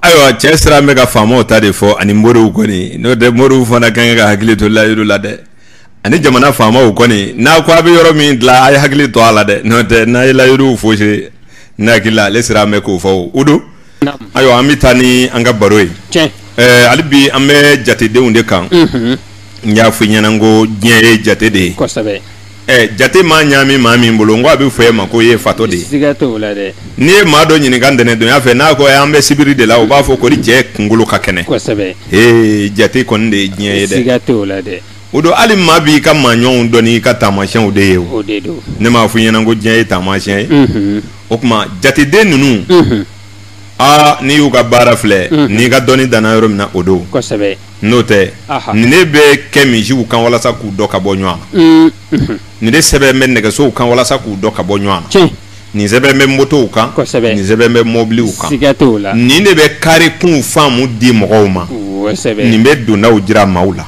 Ayiwa cɛ sera an bɛ ka faamaw ta de fɔ ani moriw kɔni n'o tɛ moriw fana ka kan ka hakili to layidu la dɛ ani jamana faamaw kɔni n'a ko a bɛ yɔrɔ min dilan a ye hakili to a la dɛ n'o tɛ n'a ye layidu fosi n'a hakili la ale sera an bɛ k'o fa o don Ayiwa an bɛ taa ni an ka baro ye hali bi an bɛ jatedenw de kan n y'a fɔ i ɲɛna ko diɲɛ ye jate de ye jate maa ɲaami maa min bolo n ko a bɛ fɔ e ma ko i ye fatɔ de ye n'i ye maa dɔ ɲininka ntɛnɛn don y'a fɛ n'a ko an bɛ sibiri de la u b'a fɔ kori cɛ kunkolo ka kɛnɛ jate kɔni de ye diɲɛ ye dɛ o don hali maa b'i ka maa ɲɔgɔnw dɔn n'i ka taamasiyɛnw de ye ne m'a fɔ i ɲɛna ko diɲɛ ye taamasiyɛn ye o tuma jateden ninnu aa n'i y'u ka baara filɛ n'i ka dɔnni danna yɔrɔ min na o don n'o tɛ nin de bɛ kɛ misiw kan walasa k'u dɔn ka bɔ ɲɔgɔn na nin de sɛbɛn bɛ nɛgɛsow kan walasa k'u dɔn ka bɔ ɲɔgɔn na nin sɛbɛn bɛ motow kan nin sɛbɛn bɛ mɔbiliw kan nin de bɛ kare kunw faamu di mɔgɔw ma nin bɛ dondaw jira maaw la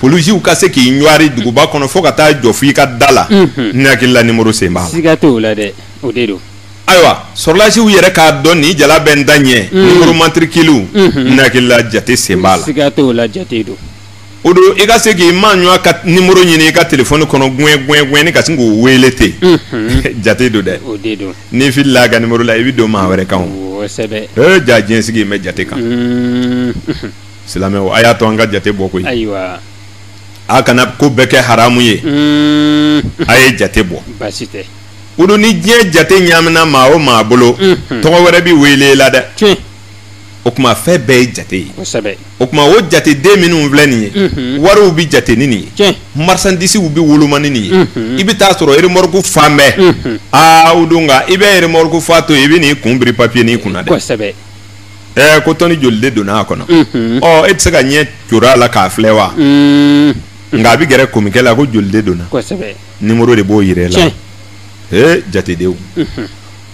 polisiw ka se k'i ɲwari duguba kɔnɔ fo ka taa jɔ fo i ka da la ne hakili la nimoro sen b'a la siga t'o la dɛ o de don ayiwa sɔrɔdasiw yɛrɛ k'a dɔn nin jala bɛ n ta ɲɛ nimoro matirikiliw ne hakili la jate sen b'a la siga t'o la jate don o don i ka se k'i maa ɲɔgɔn ka nimoro ɲini i ka telefɔni kɔnɔ guwɛn guwɛn guwɛn i ka sin k'o weele ten jate don dɛ o de don n'i filila a ka nimoro la i bɛ don maa wɛrɛ kan o kosɛbɛ ee ja diɲɛ sigi in bɛ jate kan silamɛw a y'a to an ka jate bɔ koyi ayiwa a kana ko bɛɛ kɛ haramu ye mm. a ye jate bɔ baasi tɛ o don ni diɲɛ jate ɲaamina maa o maa bolo mm-hmm. tɔgɔ wɛrɛ bɛ wele la dɛ tiɲɛ o tuma fɛn bɛɛ ye jate ye kosɛbɛ o tuma o jateden minnu filɛ nin ye mm-hmm. wariw bɛ jate ni nin ye tiɲɛ marisandisiw bɛ woloma ni nin ye mm-hmm. i bɛ t'a sɔrɔ erimɔriku falen bɛ aa o don nka i bɛ erimɔriku fa to yen i bɛ n'i kun biri papiyenin kunna dɛ kosɛbɛ Ɛɛ ko tɔni joli de donna a kɔnɔ ɔ e tɛ se ka ɲɛ coron a la k'a filɛ wa nka a bɛ gɛrɛ komikɛ la ko joli de donna nimoro de b'o jira la ee jatedenw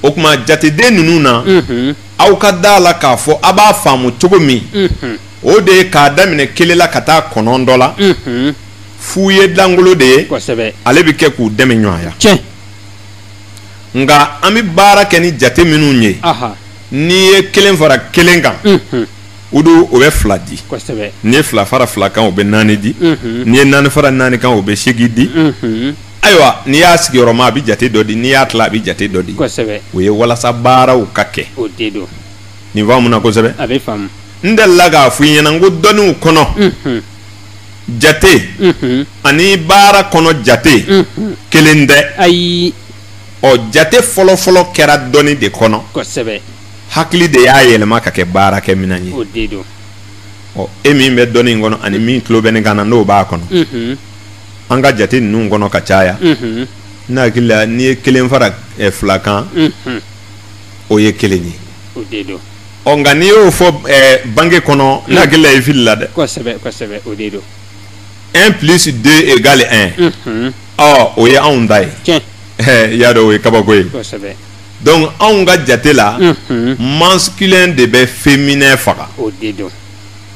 o tuma jateden ninnu na aw ka da a la k'a fɔ aw b'a faamu cogo min o de ye k'a daminɛ kelen la ka taa kɔnɔntɔn la fu ye dankolo de ye ale bɛ kɛ k'u dɛmɛ ɲɔgɔnya nka an bɛ baara kɛ ni jate minnu ye N'i ye kelen fara kelen kan o don o bɛ fila di n'i ye fila fara fila kan o bɛ naani di n'i ye naani fara naani kan o bɛ segin di ayiwa n'i y'a sigiyɔrɔma a bɛ jate dɔ di n'i y'a tila a bɛ jate dɔ di o ye walasa baaraw ka kɛ nin faamu na kosɛbɛ a bɛ n tɛ la k'a fɔ i ɲɛna ko dɔnniw kɔnɔ jate ani baara kɔnɔ jate kelen tɛ ayi ɔ jate fɔlɔfɔlɔ kɛra dɔnni de kɔnɔ kosɛbɛ hakili de y'a yɛlɛma ka kɛ baarakɛminɛn ye o de don ɔ e min bɛ dɔnni in kɔnɔ ani min tulo bɛ ne kan na n'o b'a kɔnɔ mhm. an ka jate ninnu kɔnɔ ka caya mhm. ne hakili la n'i ye kelen fara eh, fila kan mhm. o ye kelen ye o de don ɔ nka n'i y'o fɔ eh, banki kɔnɔ ne hakili la i filila dɛ kosɛbɛ kosɛbɛ o de don un plus deux égale un ɔ o ye anw ta ye tiɲɛ i y'a dɔn o ye kabako ye kosɛbɛ donc anw ka jate la unhun masculin de bɛ féminin faga o de don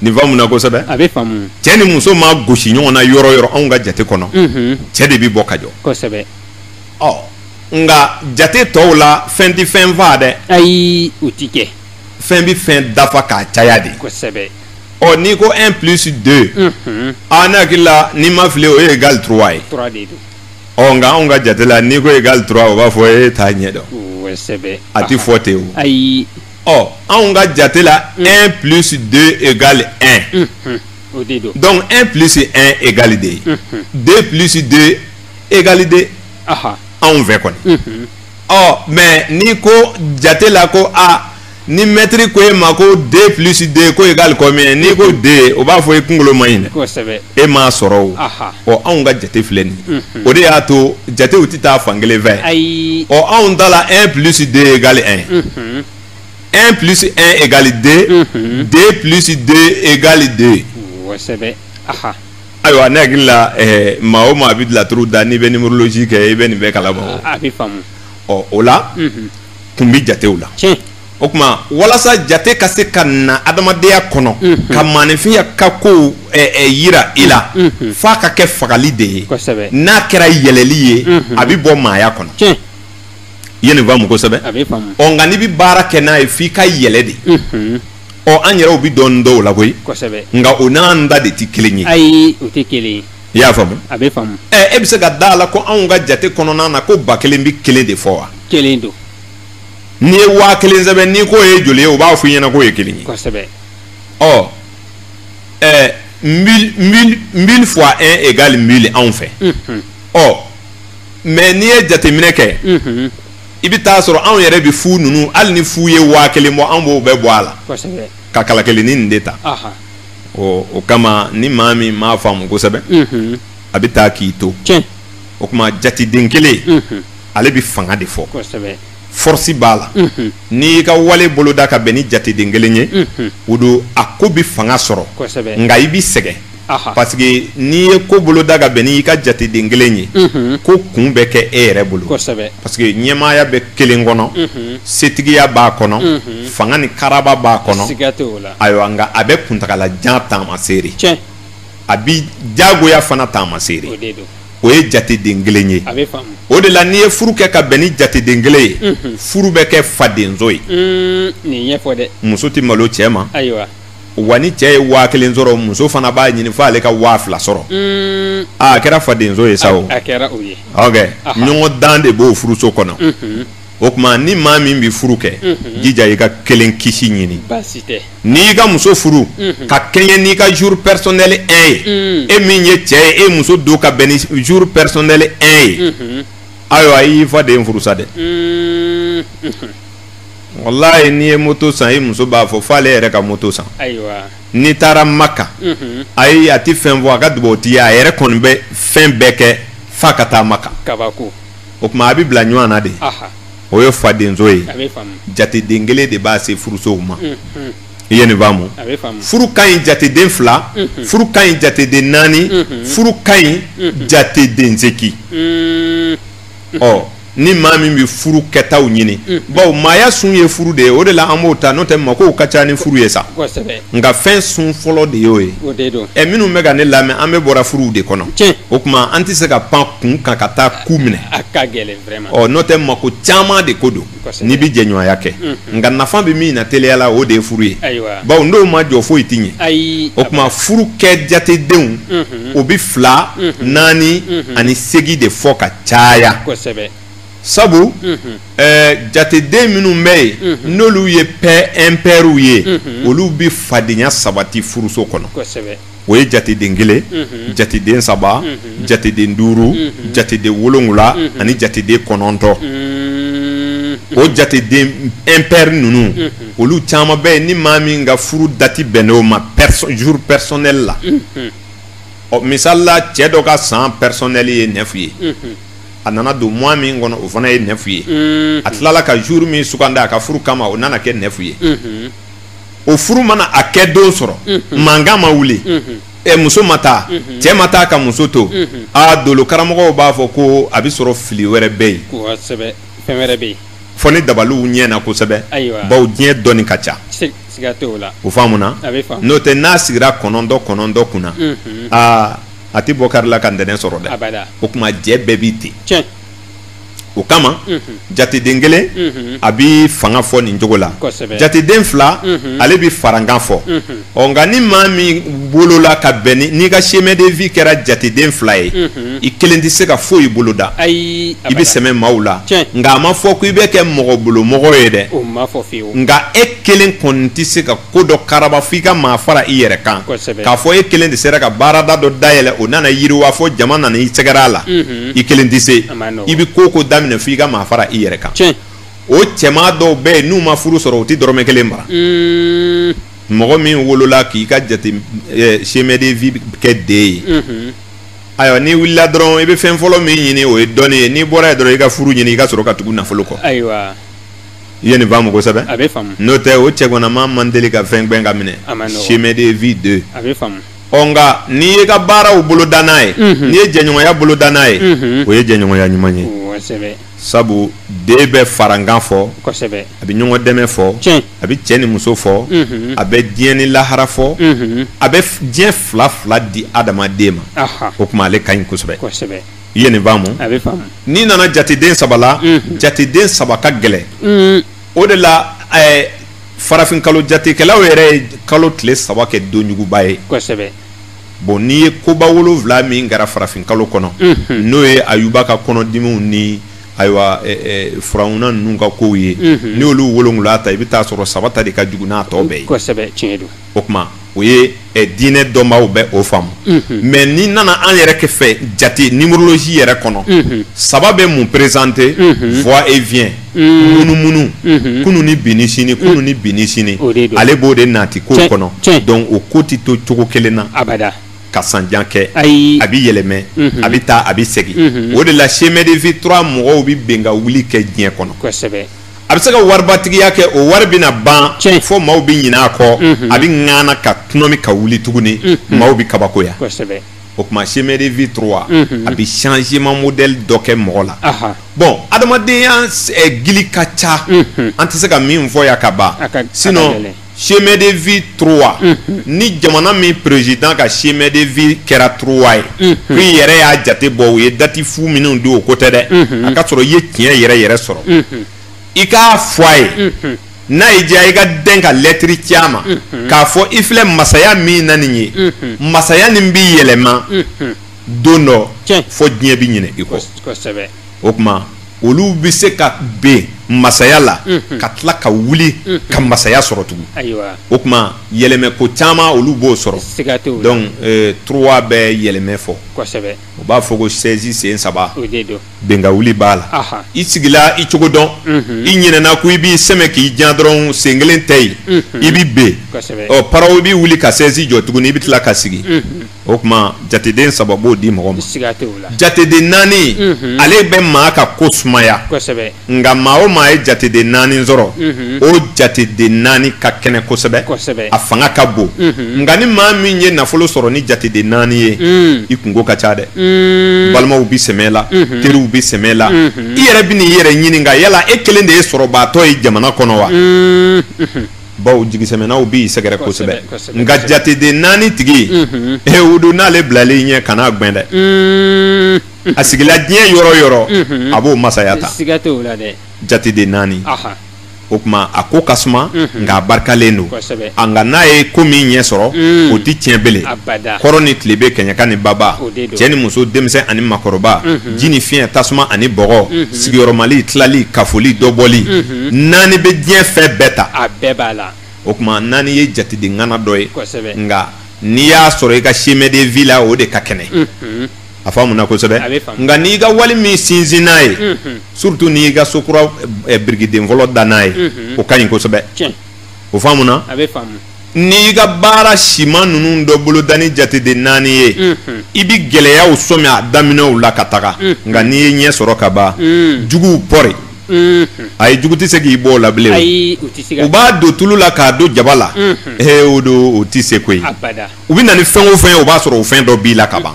nin faamu na kosɛbɛ a bɛ faamu cɛ ni muso maa gosi ɲɔgɔn na yɔrɔ yɔrɔ anw ka jate kɔnɔ unhun cɛ de bɛ bɔ ka jɔ kosɛbɛ ɔ nka jate tɔw la fɛn tɛ fɛn faga dɛ ayi u ti kɛ fɛn bɛ fɛn dafa k'a caya de kosɛbɛ ɔ n'i ko un plus deux unhun aa ne hakili la n'i ma fili o ye égal trois ye trois de don ɔ nka anw ka jate la n'i ko égal trois o b'a fɔ e t'a ɲɛ dɔn kosɛbɛ a tɛ fɔ ten o ayi ɔ anw ka jate la un plus deux égal un unhun o de don donc un plus un égal deux ye unhun deux plus deux égal deux aha anw fɛ kɔni unhun ɔ mais n'i ko jate la ko a ni mɛtiri ko e ma ko 2 plus 2 ko égal combien ye n'i ko 2 o b'a fɔ e kunkolo ma ɲi dɛ e m'a sɔrɔ o ɔ anw ka jate filɛ nin mhm. o de y'a to jatew tɛ taa fan kelen fɛ ɔ anw ta la 1 plus 2 égal 1 1 plus 1 égal 2 2 plus 2 égal 2 ayiwa ne hakili la eh, maa o maa bɛ laturu da n'i bɛ numérologie kɛ i bɛ nin bɛɛ kalama o ɔ o la mhm. kun bɛ jatew la o tuma walasa jate ka se ka na adamadenya kɔnɔ mhm. ka maaninfinya ka kow yira i la mhm. Mhm. f'a ka kɛ fagali de ye n'a kɛra yɛlɛli ye a bɛ bɔ maaya kɔnɔ i ye nin faamu kosɛbɛ ɔ nka n'i bɛ baara kɛ n'a ye f'i ka yɛlɛ de ɔ an yɛrɛw bɛ don dɔw la koyi nka o n'an ta de tɛ kelen ye ayi o tɛ kelen ye i y'a faamu a bɛ faamu ɛ e bɛ se ka da a la ko anw ka jate kɔnɔna na ko ba kelen bɛ kelen de fɔ wa kelen don n'i ye waa kelen sɛbɛn n'i k'o ye joli ye u b'a fɔ i ɲɛna k'o ye kelen ye kosɛbɛ ɔ ɛ mille mille mille fois un égale mille anw fɛ unhun ɔ mais n'i ye jateminɛ kɛ unhun i bɛ t'a sɔrɔ anw yɛrɛ bɛ fu ninnu hali ni fu ye waa kelen bɔ anw b'o bɛɛ bɔ a la kosɛbɛ ka kala kelennin nin de ta aha o kama ni maa min m'a faamu kosɛbɛ a bɛ taa k'i to o tuma jateden kelen ale bɛ fanga de fɔ fɔrisi b'a la n'i ka wale boloda ka bɛn ni jateden kelen ye o don a ko bɛ fanga sɔrɔ nka i bɛ sɛgɛn parce que n'i ye ko boloda ka bɛn n'i ka jateden kelen ye ko kun bɛ kɛ e yɛrɛ bolo parce que ɲɛmaaya bɛ kelen kɔnɔ setigiya b'a kɔnɔ fanga ni karaba b'a kɔnɔ ayiwa nka a bɛ kuntaala jan taamaseere a bi jagoya fana taamaseere o ye jateden kelen ye o de la n'i ye furu kɛ ka bɛn ni jateden kelen ye furu bɛ kɛ fadenso ye muso tɛ malo cɛ ma wa ni cɛ ye waa kelen sɔrɔ muso fana b'a ɲini fo ale ka waa fila sɔrɔ a kɛra fadenso ye sa o ɲɔgɔndan de b'o furuso kɔnɔ o tuma ni maa min bɛ furu kɛ mhm. jija i ka kelen kisi ɲini n'i y'i ka muso furu mhm. ka kɛɲɛ n'i ka jour personnel 1 ye mhm. e min ye cɛ ye e muso don ka bɛn ni jour personnel 1 ye ayiwa i y'i faden furu sa dɛ walayi n'i ye moto san i muso b'a fɔ f'ale yɛrɛ ka moto san n'i taara maka ayi a tɛ fɛn fɔ a ka dugawu t'i ye a yɛrɛ kɔni bɛ fɛn bɛɛ kɛ f'a ka taa maka o tuma a bɛ bila ɲɔgɔn na de o ye fadenso ye jateden kelen de b'a se furusow ma i ye nin faamu furu ka ɲi jateden fila furu ka ɲi jateden naani furu ka ɲi jateden segi ɔ ni maa min bɛ furu kɛtaw ɲini bawo maaya sun ye furu de ye o de la an b'o ta n'o tɛ makow ka ca ni furu ye sa nka fɛn sun fɔlɔ de y'o ye ɛ minnu bɛ ka ne lamɛn an bɛɛ bɔra furuw de kɔnɔ o tuma an tɛ se ka pan kun kan ka taa ku minɛ a ka gɛlɛn vraiment ɔ n'o tɛ mako caman de ko don n'i bɛ jɛɲɔgɔnya kɛ mhm. nka nafa bɛ min na teliya la o de ye furu ye bawo n'o ma jɔ foyi tɛ ɲɛ o tuma furu kɛ jatedenw mhm. o bɛ fila mhm. naani ani segi de fɔ ka caya sabu ɛɛ jateden minnu bɛ yen n'olu ye pɛ ɛnpɛriw ye olu bɛ fadenya sabati furuso kɔnɔ. o ye jateden kelen jateden saba jateden duuru jateden wolowula ani jateden kɔnɔntɔn o jateden impair ninnu olu caman bɛ yen ni maa min ka furu dati bɛnn'o ma jour personnel la ɔ misali la cɛ dɔ ka san personnel ye neuf ye a nana don mois min kɔnɔ o fana ye neuf ye a tilala ka jour min sugandi a ka furu kama o nana kɛ neuf ye o furu mana a kɛ don sɔrɔ mankan ma wuli ɛ muso ma taa cɛ ma taa ka muso to aa dolo karamɔgɔw b'a fɔ ko a bɛ sɔrɔ fili wɛrɛ bɛ yen fɛn wɛrɛ bɛ yen fɔ ni dabaliw ɲɛna kosɛbɛ bawo diɲɛ dɔnni ka ca o faamu na n'o tɛ n'a sigira kɔnɔntɔn kɔnɔntɔn kunna aa a tɛ bɔ kari la ka ntɛnɛn sɔrɔ dɛ o tuma jɛ bɛɛ bɛ ten o kama jateden kelen a bɛ fanga fɔ nin cogo la jateden fila ale bɛ farankan fɔ ɔ nka ni maa min wolola ka bɛn n'i ka chemin de vie kɛra jateden fila ye i kelen tɛ se ka foyi boloda i bɛ sɛmɛ maaw la nka a ma fɔ ko i bɛ kɛ mɔgɔ bolo mɔgɔ ye dɛ nka e kelen kɔni tɛ se ka ko dɔ karaba f'i ka maa fara i yɛrɛ kan k'a fɔ e kelen de sera ka baarada dɔ dayɛlɛ o nana yiriwa fɔ jama nana i sɛgɛrɛ a la i kelen tɛ se i bɛ ko o ko daminɛ fo i ka maa fara i yɛrɛ kan o cɛma dɔw bɛ yen n'u ma furu sɔrɔ u tɛ dɔrɔmɛ kelen mara mɔgɔ min wolola k'i ka jate chemin de vie kɛ deux ye ayiwa n'i wulila dɔrɔn i bɛ fɛn fɔlɔ min ɲini o ye dɔnni ye n'i bɔra yen dɔrɔn i ka furu ɲini i ka sɔrɔ ka tugu nafolo kɔ i ye nin faamu kosɛbɛ n'o tɛ o cɛganama man deli ka fɛn gɛn k'a minɛ chemin de vie deux ɔ nka n'i y'i ka baaraw boloda n'a ye n'i ye jɛɲɔgɔnya boloda n'a ye o ye jɛɲɔgɔnya ɲuman ye sabu deux bɛ farankan fɔ a bɛ ɲɔgɔn dɛmɛ fɔ a bɛ cɛ ni muso fɔ a bɛ diɲɛ ni lahara fɔ a bɛ diɲɛ fila fila di adamaden ma o tuma ale ka ɲi kosɛbɛ i ye nin faamu n'i nana jateden saba la jateden saba ka gɛlɛn o de la eh, farafin kalo jatekɛlaw yɛrɛ ye kalo tile saba kɛ donjuguba ye kosɛbɛ bon n'i ye koba wolonwula min kɛra farafin kalo kɔnɔ mhm. n'o ye ayuba ka kɔnɔdimiw ni ayiwa eh, eh, firawuna ninnu ka kow ye mhm. n'i y'olu wolonwula ta i bɛ taa sɔrɔ saba ta de ka jugu n'a tɔ bɛɛ ye kosɛbɛ tiɲɛ don o tuma o ye eh, diinɛ dɔnbaaw bɛ o faamu mhm. mais n'i nana an yɛrɛ kɛ fɛ jate numérologie yɛrɛ kɔnɔ mhm. saba bɛ mun perezante mhm. va et vient munumunu kunu ni bini sini kunu ni bini sini ale b'o de nati ko kɔnɔ donc o ko tɛ to cogo kelen na abada ka sanjan kɛ a bɛ yɛlɛmɛ a bɛ taa a bɛ segin o de la chemin de vie trois mɔgɔw bɛ bin ka wuli kɛ diɲɛ kɔnɔ a bɛ se ka waribatigiya kɛ o wari bɛna ban fo maaw bɛ ɲinɛ a kɔ mhm. a bɛ ŋana ka tunɔmi ka wuli tuguni mhm. maaw bɛ kabakoya o tuma chemin de vie trois mhm. a bɛ changement modèle dɔ kɛ mɔgɔ la bɔn adamadenya eh, gili ka ca an tɛ se ka min fɔ yan ka ban sinon chemin de vie trois mhm. ni jamana min président ka chemin de vie kɛra trois ye mhm. ko i yɛrɛ y'a jate bɔ u ye dati fu minnu di o ko tɛ dɛ mhm. a ka sɔrɔ i ye tiɲɛ yɛrɛ yɛrɛ sɔrɔ i k'a fɔ a ye n'a y'i diya i ka den ka lɛtiri ci a ma k'a fɔ i filɛ masaya min na nin ye masaya nin b'i yɛlɛma don dɔ fo diɲɛ bɛ ɲinɛ i kɔ o tuma olu bɛ se ka bin masaya la ka tila ka wuli ka masaya sɔrɔ tugun o tuma yɛlɛmɛ ko caman olu b'o sɔrɔ donc trois bɛ yɛlɛmɛ fo u b'a fɔ ko sɛsi sen saba bin ka wuli b'a la i sigila i cogo dɔn i ɲinɛna a kɔ i b'i sɛmɛ k'i jan dɔrɔn sen kelen tɛ yen i bɛ bin paraw i bɛ wuli ka sɛsi jɔ tugun i bɛ tila ka sigi o tuma jateden saba b'o di mɔgɔ ma jateden naani mhm. ale bɛ maa ka ko sumaya nka maa o maa ye jateden naani sɔrɔ mhm. o jateden naani ka kɛnɛ kosɛbɛ a fanga ka bon mhm. nka ni maa min ye nafolo sɔrɔ ni jateden naani ye mm. i kunko ka ca dɛ mm. balimaw bɛ sɛmɛ i la teriw bɛ sɛmɛ i la i yɛrɛ bɛ n'i yɛrɛ ɲininka yala e kelen de ye sɔrɔbaatɔ ye jamana kɔnɔ wa mm. bawo jigisɛmɛnaw b'i sɛgɛrɛ kosɛbɛ nka jateden naani tigi e wudu n'ale bilalen ɲɛ kan'a gbɛn dɛ a sigila diɲɛ yɔrɔ o yɔrɔ a b'o masaya ta jateden naani o tuma a ko ka suma nka a barikalen don a nka n'a ye ko min ɲɛ sɔrɔ o tɛ tiɲɛ bilen kɔrɔn ni tilebin kɛɲɛka ni baba cɛ ni muso denmisɛn ani makɔrɔba ji ni fiɲɛ tasuma ani bɔgɔ sigiyɔrɔmali tilali kafoli dɔbɔli hmm. naani bɛ diɲɛ fɛn bɛɛ ta a bɛɛ b'a la o tuma naani ye jateden ŋana dɔ ye kosɛbɛ nka n'i y'a sɔrɔ i ka chemin de vie la o de ka kɛnɛ hmm. a faamuna kosɛbɛ nka n'i ka wali min sinsin n'a ye hmm. surtout n'i ka sokura eh, birikiden fɔlɔ da n'a ye o ka ɲi kosɛbɛ o faamuna n'i ka baara siman ninnu dɔ boloda ni jateden naani ye i bɛ gɛlɛyaw sɔmi a daminɛw la ka taga nka n'i ye ɲɛ sɔrɔ ka ban juguw pɔri a ye jugu tɛ se k'i bɔ o la bilen o u b'a don tulu la k'a don jaba la ee o don o tɛ se koyi u bɛ na ni fɛn o fɛn ye o b'a sɔrɔ o fɛn dɔ b'i la ka ban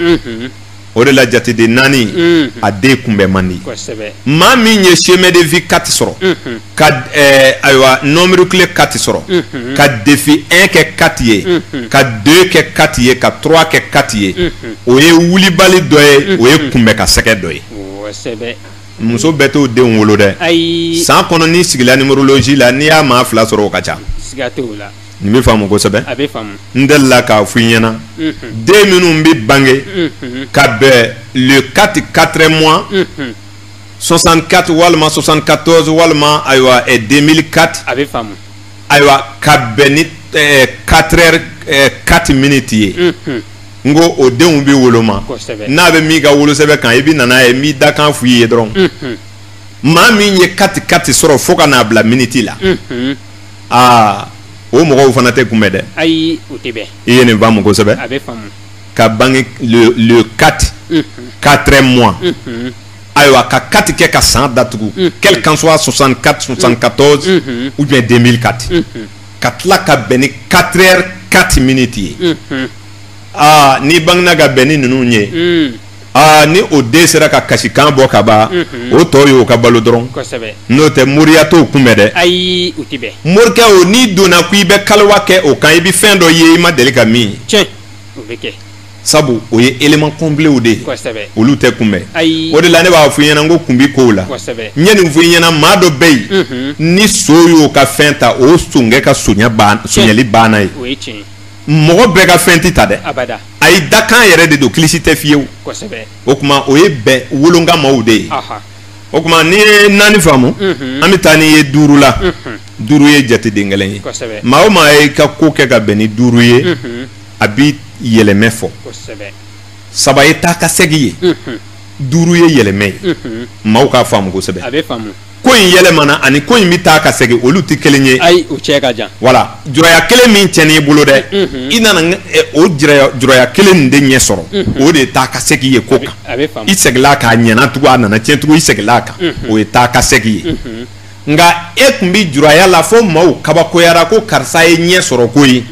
o de la jateden naani mm-hmm. a den kunbɛn man di maa min ye chemin de vie kati sɔrɔ mm-hmm. ka eh, ayiwa nombre clé kati sɔrɔ mm-hmm. ka défi 1 kɛ kati ye ka 2 kɛ kati ye ka 3 kɛ kati ye o ye wulibali dɔ ye o ye kunbɛn ka sɛgɛn dɔ ye muso bɛɛ t'o denw wolo dɛ san kɔnɔ n'i sigila numérologie la n'i y'a maa fila sɔrɔ o ka ca Nin bɛ faamu kosɛbɛ, a bɛ faamu, n delila k'a fɔ i ɲɛna, unhun, den minnu bɛ bange, unhun, ka bɛn le 4 4 mois, unhun, 64 walima 74 walima ayiwa 2004 a bɛ faamu, ayiwa ka bɛn ni 4 heures 4 minutes ye, unhun, n ko o denw bɛ woloma, kosɛbɛ, n'a bɛ min ka wolosɛbɛn kan i bɛ na n'a ye n b'i dakan fɔ i ye dɔrɔn, unhun, maa min ye 4 4 sɔrɔ fo ka n'a bila minutes la, unhun aa o mɔgɔw fana tɛ kunbɛn dɛ ayi o tɛ bɛn i ye nin faamu kosɛbɛ a bɛ faamu ka bange le le 4 4 mois ayiwa ka kati kɛ ka san datugu quel qu'en soit 64 74 ou bien 2004 ka tila ka bɛn ni 4 heures 4 minutes ye aa n'i bangena ka bɛn ni ninnu ye aa ni o den sera ka kasikan bɔ ka ban o tɔ y'o ka balo dɔrɔn n'o tɛ moriya t'o kunbɛn dɛ ayi o tɛ bɛn morikɛ o n'i donna ko i bɛ kaliwa kɛ o kan i bɛ fɛn dɔ ye i ma deli ka min ye tiɲɛ o bɛ kɛ sabu o ye élément completw de ye kosɛbɛ olu tɛ kunbɛn ayi o de la ne b'a fɔ i ɲɛna n ko kun bi kow la kosɛbɛ n ye nin fɔ i ɲɛna maa dɔ bɛ yen ni son y'o ka fɛn ta o sonkɛ ka sonya ban sonyali banna ye o ye tiɲɛ ye mɔgɔ bɛɛ ka fɛn tɛ ta dɛ a ye dakan yɛrɛ de don kilisi tɛ fiyewu o tuma o ye bɛn wolonka maaw de ye o tuma n'i ye naani faamu mhm. an bɛ taa n'i ye duuru la mhm. duuru ye jateden kelen ye maa o maa y'a ka ko kɛ ka bɛn ni duuru ye mhm. a bɛ yɛlɛmɛ fɔ saba ye taa ka segin ye duuru ye yɛlɛmɛ ye maaw k'a faamu kosɛbɛ ko in yɛlɛmana ani ko in bɛ taa ka segin olu tɛ kelen ye ayi o cɛ ka jan voilà juraya kelen min tiɲɛn'i bolo dɛ i nana o juraya kelen nin de ɲɛ sɔrɔ o de ye taa ka segin ye ko kan i seginla k'a ɲɛna tugun a nana tiɲɛ tugun i seginla a kan o ye taa ka segin ye nka e tun bɛ juraya la fo maaw kabakoyara ko karisa ye ɲɛ sɔrɔ ko ye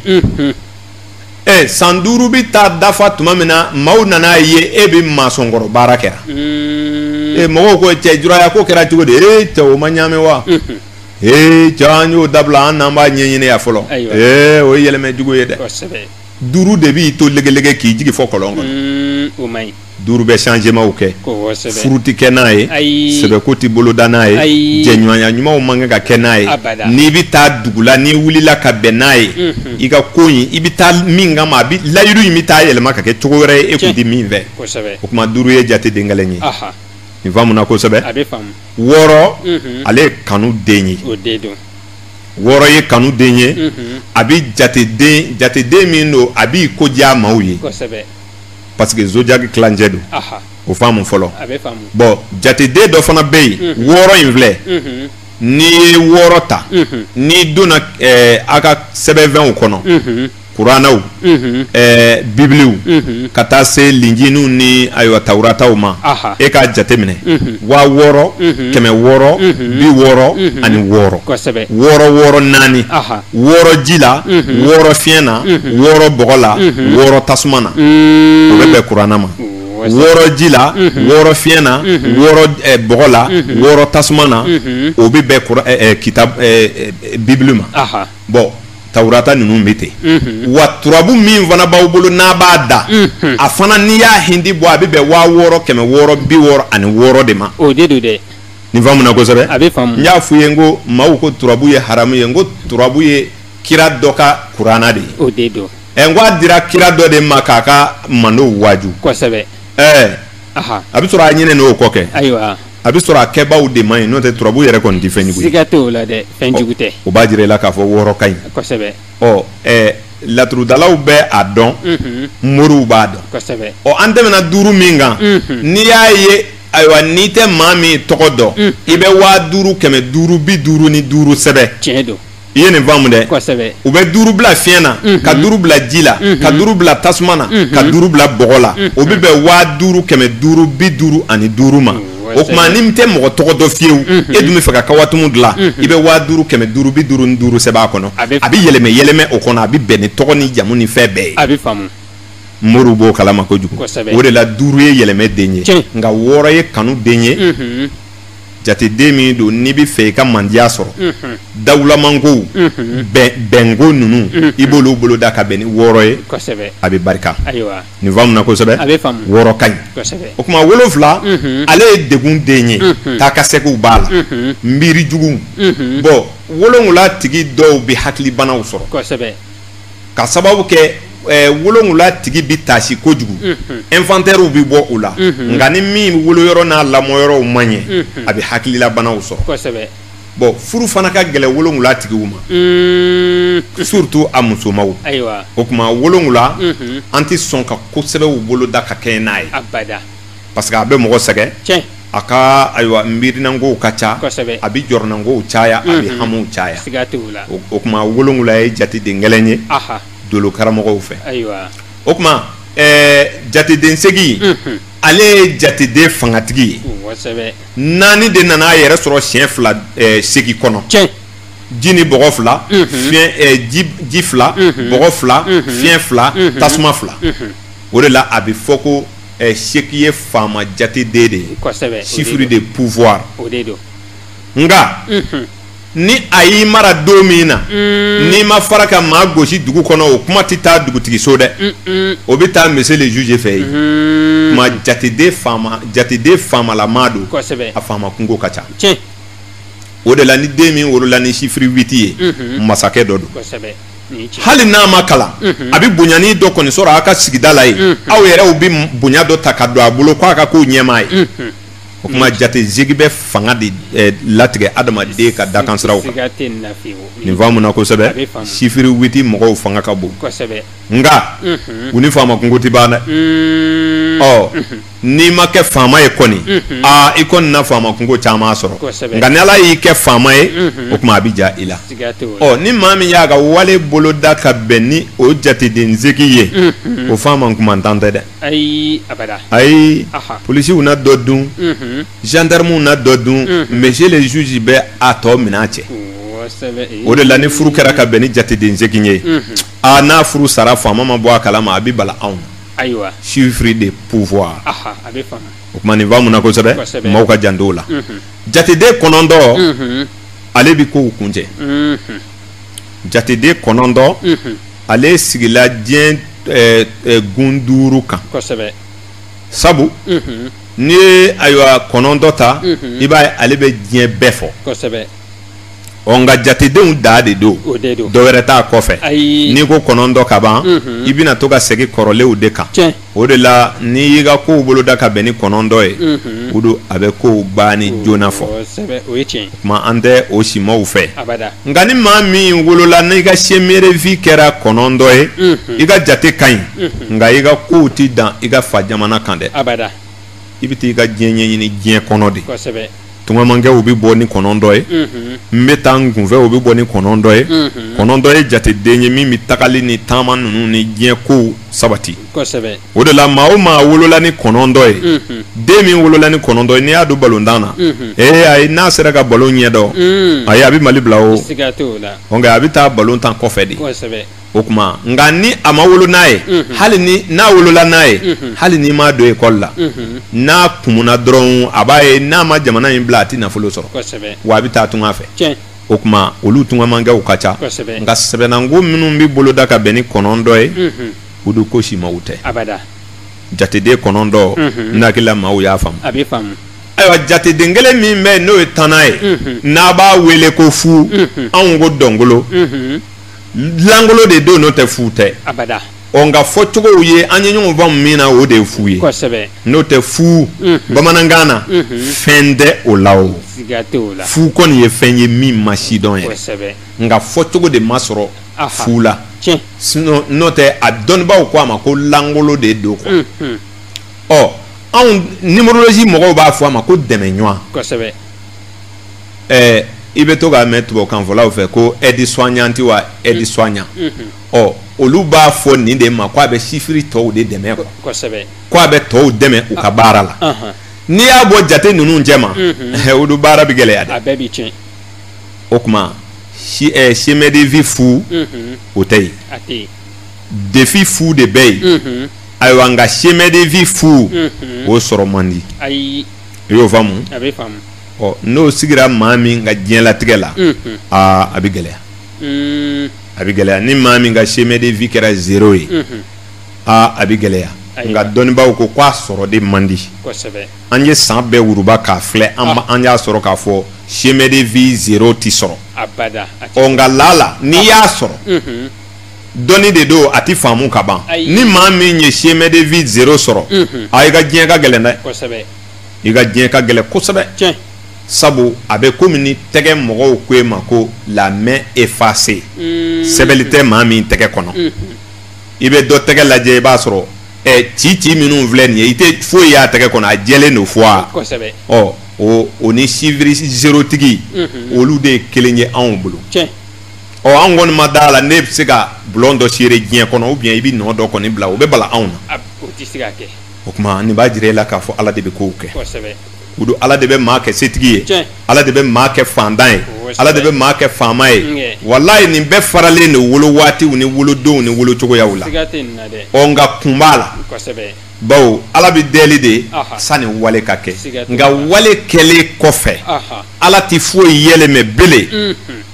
ɛ san duuru bi taa dafa tuma min na maaw nana a ye e bɛ masɔnkɔrɔ baara kɛra hmm. ee mɔgɔw ko cɛ juraya ko kɛra cogo di ee cɛ o ma ɲaami wa hmm. ee cɛ an y'o dabila an n'an b'a ɲɛɲini yan fɔlɔ ee o ye yɛlɛmɛ jugu ye dɛ duuru de b'i to legelege k'i jigi fo kɔlɔn kɔnɔ hmm, duuru bɛ changementw kɛ furu tɛ kɛ n'a ye sɛbɛko tɛ boloda n'a ye jɛɲɔgɔnya ɲumanw man kan ka kɛ n'a ye n'i bɛ taa dugu la n'i wulila ka bɛn n'a ye i ka ko in i bɛ taa min kama a bɛ layidu in bɛ taa yɛlɛma ka kɛ cogo wɛrɛ ye e tun tɛ min fɛ o tuma duuru ye jateden kelen ye nin faamuna kosɛbɛ wɔɔrɔ ale ye kanu den ye wɔɔrɔ ye kanu den ye a bɛ jateden min don a b'i ko diya maaw ye parce que zodiaque tilancɛ don o faamu fɔlɔ bɔn jateden dɔ fana bɛ yen mhm. wɔɔrɔ in filɛ mhm. n'i ye wɔɔrɔ ta mhm. n'i donna eh, a ka sɛbɛnfɛnw kɔnɔ kuranaw eh, bibiliw ka taa se linjiniw ni ayiwa tawurataw ma e k'a jateminɛ waa wɔɔrɔ kɛmɛ wɔɔrɔ bi wɔɔrɔ ani wɔɔrɔ wɔɔrɔ wɔɔrɔ naani wɔɔrɔ ji la wɔɔrɔ fiɲɛ na wɔɔrɔ bɔgɔ la wɔɔrɔ tasuma na mm. o bɛ bɛn kurana ma wɔɔrɔ ji la wɔɔrɔ fiɲɛ na wɔɔrɔ eh, bɔgɔ la wɔɔrɔ tasuma na o bɛ bɛn kura eh, eh, kita bibili ma bɔn tawurata ninnu bɛ ten wa turabu min fana b'aw bolo n'a b'a da a fana n'i y'a hindi bɔ a bɛ bɛn waa wɔɔrɔ kɛmɛ wɔɔrɔ bi wɔɔrɔ ani wɔɔrɔ de ma o de don dɛ nin faamuna kosɛbɛ a bɛ faamu n y'a f'u ye n ko maaw ko turabu ye haramu ye n ko turabu ye kira dɔ ka kurana de ye o de don ɛ n ko a dira kira dɔ de ma k'a ka mantonw waaju kosɛbɛ ɛɛ a bɛ sɔrɔ a ɲinɛn'o kɔ kɛ ayiwa a bɛ sɔrɔ a kɛbaaw de man ɲi n'o tɛ turabu yɛrɛ kɔni tɛ fɛn jugu ye siga t'o la dɛ fɛn jugu tɛ o b'a jira i la k'a fɔ wɔɔrɔ ka ɲi kosɛbɛ ɔ ɛɛ laturudalaw bɛ a dɔn moriw b'a dɔn kosɛbɛ ɔ an tɛmɛna duuru min kan n'i y'a ye ayiwa n'i tɛ maa min tɔgɔ dɔn mm. i bɛ waa duuru kɛmɛ duuru bi duuru ni duuru sɛbɛn tiɲɛ don i ye nin faamu dɛ kosɛbɛ u bɛ duuru bila fiɲɛ na mm-hmm. ka duuru bila ji la mm-hmm. ka duuru bila tasuma na ka mm-hmm. duuru bila bɔgɔ la o bɛ bɛn waa duuru kɛmɛ duuru bi duuru ani duuru ma o tuma n'i tɛ mɔgɔ tɔgɔ dɔn fewu e dun bɛ fɛ ka kawatumu dilan i bɛ waa duuru kɛmɛ duuru bi duuru ni duuru sɛbɛn a kɔnɔ a bɛ yɛlɛmɛ yɛlɛmɛ o kɔnɔ a bɛ bɛn ni tɔgɔ ni jamu ni fɛn bɛɛ ye a bɛ faamu moriw b'o kalama kojugu o de la duuru ye yɛlɛmɛ den ye nka wɔɔrɔ ye kanu den ye jateden min don n'i bɛ fɛ i ka mandiya sɔrɔ dawulamankow bɛnko ninnu i b'olu boloda ka bɛn ni wɔɔrɔ ye a bɛ barika nin faamuna kosɛbɛ wɔɔrɔ ka ɲi o tuma wolo wolonwula ale ye degun den ye taa ka seginw b'a la miirijuguw bɔn wolo wolonwula tigi dɔw bɛ hakilibanaw sɔrɔ k'a sababu kɛ wolowula tigi bɛ tasi kojugu inventeurw bɛ bɔ u la nka ni min wolo yɔrɔ n'a lamɔ yɔrɔw man ɲɛ a bɛ hakililabanaw sɔrɔ bɔn furu fana ka gɛlɛ wolowula tigiw ma surtout a musomaw o tuma wolowula an tɛ sɔn ka ko sɛbɛw boloda ka kɛɲɛ n'a ye parce que a bɛ mɔgɔ sɛgɛn tiɲɛ a ka ayiwa miirinankow ka ca kosɛbɛ a bɛ jɔrɔnankow caya a bɛ hamiw caya siga t'o la o o tuma wolonwula ye jateden gɛlɛn ye aha dolo karamɔgɔw fɛ ayiwa o tuma ɛɛ jateden segin unhun ale ye jateden fangatigi ye kosɛbɛ naani de nana a yɛrɛ sɔrɔ siɲɛ fila ɛɛ segin kɔnɔ tiɲɛ ji ni bɔgɔ fila Unhun. fiɲɛ ɛɛ ji ji fila Unhun. bɔgɔ fila Unhun. fiɲɛ fila Unhun. tasuma fila Unhun. o de la a bɛ fɔ ko Ɛ segin ye faama jateden de ye chiffre de pouvoir nka ni a y'i mara don min na n'i ma fara ka maa gosi dugu kɔnɔ o kuma tɛ taa dugutigiso dɛ o bɛ taa monsieur le juge fɛ yen ma jateden jateden faamalama don a faama kunko ka ca o de la ni den min wolola ni chiffre huit ye masakɛ dɔ don hali n'a ma kalan a bɛ bonyanin dɔ kɔni sɔrɔ aw ka sigida la yen aw yɛrɛw bɛ bonya dɔ ta ka don a bolo k'a ka k'aw ɲɛmaa ye o tuma jateden segin bɛ fanga de eh, latigɛ adamaden ka dakansiraw kan nin faamuna kosɛbɛ chiffre huit mɔgɔw fanga ka bon nka u ni faama kunko tɛ ban dɛ ɔ N'i ma kɛ faama ye kɔni i kɔni na faama kunko caman sɔrɔ nka ni ala y'i kɛ faama ye o tuma a bɛ diya i la ɔ ni maa min y'a ka wale boloda ka bɛn ni o jateden segin ye o faama kumantan tɛ dɛ ayi ayi polisiw na dɔ dun gendarmew na dɔ dun monsieur le juge bɛ a tɔ minɛ cɛ o de la ni furu kɛra ka bɛn ni jateden segin ye aa n'a furu sara faama ma bɔ a kalama a bɛ bala anw ayiwa chiffre de pouvoir aha a bɛ faamu o tuma nin faamuna kosɛbɛ Kosɛbɛ. maaw ka janto o la Mhm. jateden kɔnɔntɔn Mhm. ale bi kow kuncɛ Mhm. jateden kɔnɔntɔn Mhm. ale sigila diɲɛ eh, eh, gun duuru kan kosɛbɛ sabu Mhm. n'i ye ayiwa kɔnɔntɔn ta Mhm. i b'a ye ale bɛ diɲɛ bɛɛ fɔ kosɛbɛ ɔ nka jatedenw dan de don dɔ wɛrɛ t'a kɔfɛ n'i ko kɔnɔntɔn ka ban mhm. i bɛna to ka segin kɔrɔlenw de kan o de la n'i y'i ka kow boloda ka bɛn ni kɔnɔntɔn ye mhm. o don a bɛ kow banni joona fɔ tuma an tɛ o simaw fɛ nka ni maa min wolola n'i ka chemin de vie kɛra kɔnɔntɔn ye mhm. i ka jate ka ɲi nka i ka kow tɛ dan i ka fa jamana kan dɛ i bɛ taa i ka diɲɛ ɲɛɲini diɲɛ kɔnɔ de tungamankɛ u bɛ bɔ ni kɔnɔntɔn ye n bɛ taa n kunfɛ u bɛ bɔ ni kɔnɔntɔn ye kɔnɔntɔn ye jateden ye min bɛ tagali ni taama ninnu ni diɲɛ kow sabati o de la maa o maa wolola ni kɔnɔntɔn ye den min wolola ni kɔnɔntɔn ye n'i y'a don balontan na ee a n'a sera ka balon ɲɛdɔn a a bɛ mali bila o a bɛ taa balon tan kɔfɛ de o tuma nka ni a ma wolo n'a ye mhm. hali ni n'a wolola n'a ye mhm. hali n'i m'a don ekɔli la mhm. n'a kumuna dɔrɔn a b'a ye n'a ma jamana in bila a tɛ nafolo sɔrɔ wa a bɛ taa tunga fɛ o tuma olu tungamankɛw ka ca nka sɛbɛnnanko minnu bɛ boloda ka bɛn ni kɔnɔntɔn ye u do ko si maaw tɛ jateden kɔnɔntɔn n hakili la maaw y'a faamu ayiwa jateden kelen min bɛ yen n'o ye tannan ye n'an b'a wele ko fu anw ko dɔkolon lankolon de don n'o tɛ fu tɛ ɔ nka fɔ cogow ye an ye ɲɔgɔn faamu min na o de ye fu ye n'o tɛ fu bamanankan na fɛn tɛ o la o fu kɔni ye fɛn ye min ma sidɔn ye nka fɔ cogo de ma sɔrɔ fu la n'o tɛ a dɔnnibaw ko a ma ko lankolon de don kɔ ɔ anw numérologie mɔgɔw b'a fɔ a ma ko dɛmɛɲɔgɔn ɛɛ i bɛ to k'a mɛn tubabukanfɔlaw fɛ ko aide soignante wa aide soignant ɔ olu b'a fɔ nin de ma ko a bɛ sifiri tɔw de dɛmɛ quoi kosɛbɛ ko a bɛ tɔw dɛmɛ u ka baara la Ahan. n'i y'a bɔ jate ninnu cɛ ma Mhm. olu baara bɛ gɛlɛya dɛ a bɛɛ bɛ tiɲɛ o tuma si ɛɛ chemin de vie fu Mhm. o tɛ yen a tɛ yen défi fu de bɛ yen Mhm. ayiwa nka chemin de vie fu Mhm. o sɔrɔ man di ayi i y'o faamu a bɛ faamu ɔ n'o sigira maa min ka diɲɛlatigɛ la aa a bɛ gɛlɛya a bɛ gɛlɛya ni maa min ka chemin de vie kɛra zero ye aa a bɛ gɛlɛya nka dɔnnibaaw ko k'a sɔrɔ de man di an ye san bɛɛ wuruba k'a filɛ an ah. an y'a sɔrɔ k'a fɔ chemin de vie zero tɛ sɔrɔ ɔ nka lala n'i ah. y'a sɔrɔ mhm. dɔnni de don a tɛ faamu ka ban ni maa min ye chemin de vie zero sɔrɔ mhm. a i ka diɲɛ ka gɛlɛn dɛ i ka diɲɛ ka gɛlɛn kosɛbɛ tiɲɛ sabu a bɛ komi ni tɛgɛ mɔgɔw ko e ma ko la main effacée mm. sɛbɛli tɛ maa min tɛgɛ kɔnɔ mm. i bɛ dɔ tɛgɛ lajɛ i b'a sɔrɔ ɛ ci ci minnu filɛ nin ye i tɛ foyi y'a tɛgɛ kɔnɔ a jɛlen don fo a kosɛbɛ ɔ o o ni sifiri zero tigi mm-hmm. olu de ye kelen ye anw bolo tiɲɛ ɔ an kɔni ma d'a la n'e bɛ se ka bulon dɔ seere diɲɛ kɔnɔ ou bien i bɛ nɔ dɔ kɔni bila o bɛ bala anw na o tɛ se ka kɛ o tuma nin b'a jira e la k'a fɔ ala de bɛ ko kɛ o don ala de bɛ maa kɛ setigi ye ala de bɛ maa kɛ fantan ye ala de bɛ maa kɛ faama ye walayi nin bɛɛ faralen de wolo waatiw ni wolodonw ni wolocogoyaw la ɔ nka kun b'a la bawo ala bɛ deli de sani wale ka kɛ nka wale kɛlen kɔfɛ ala tɛ foyi yɛlɛmɛ bele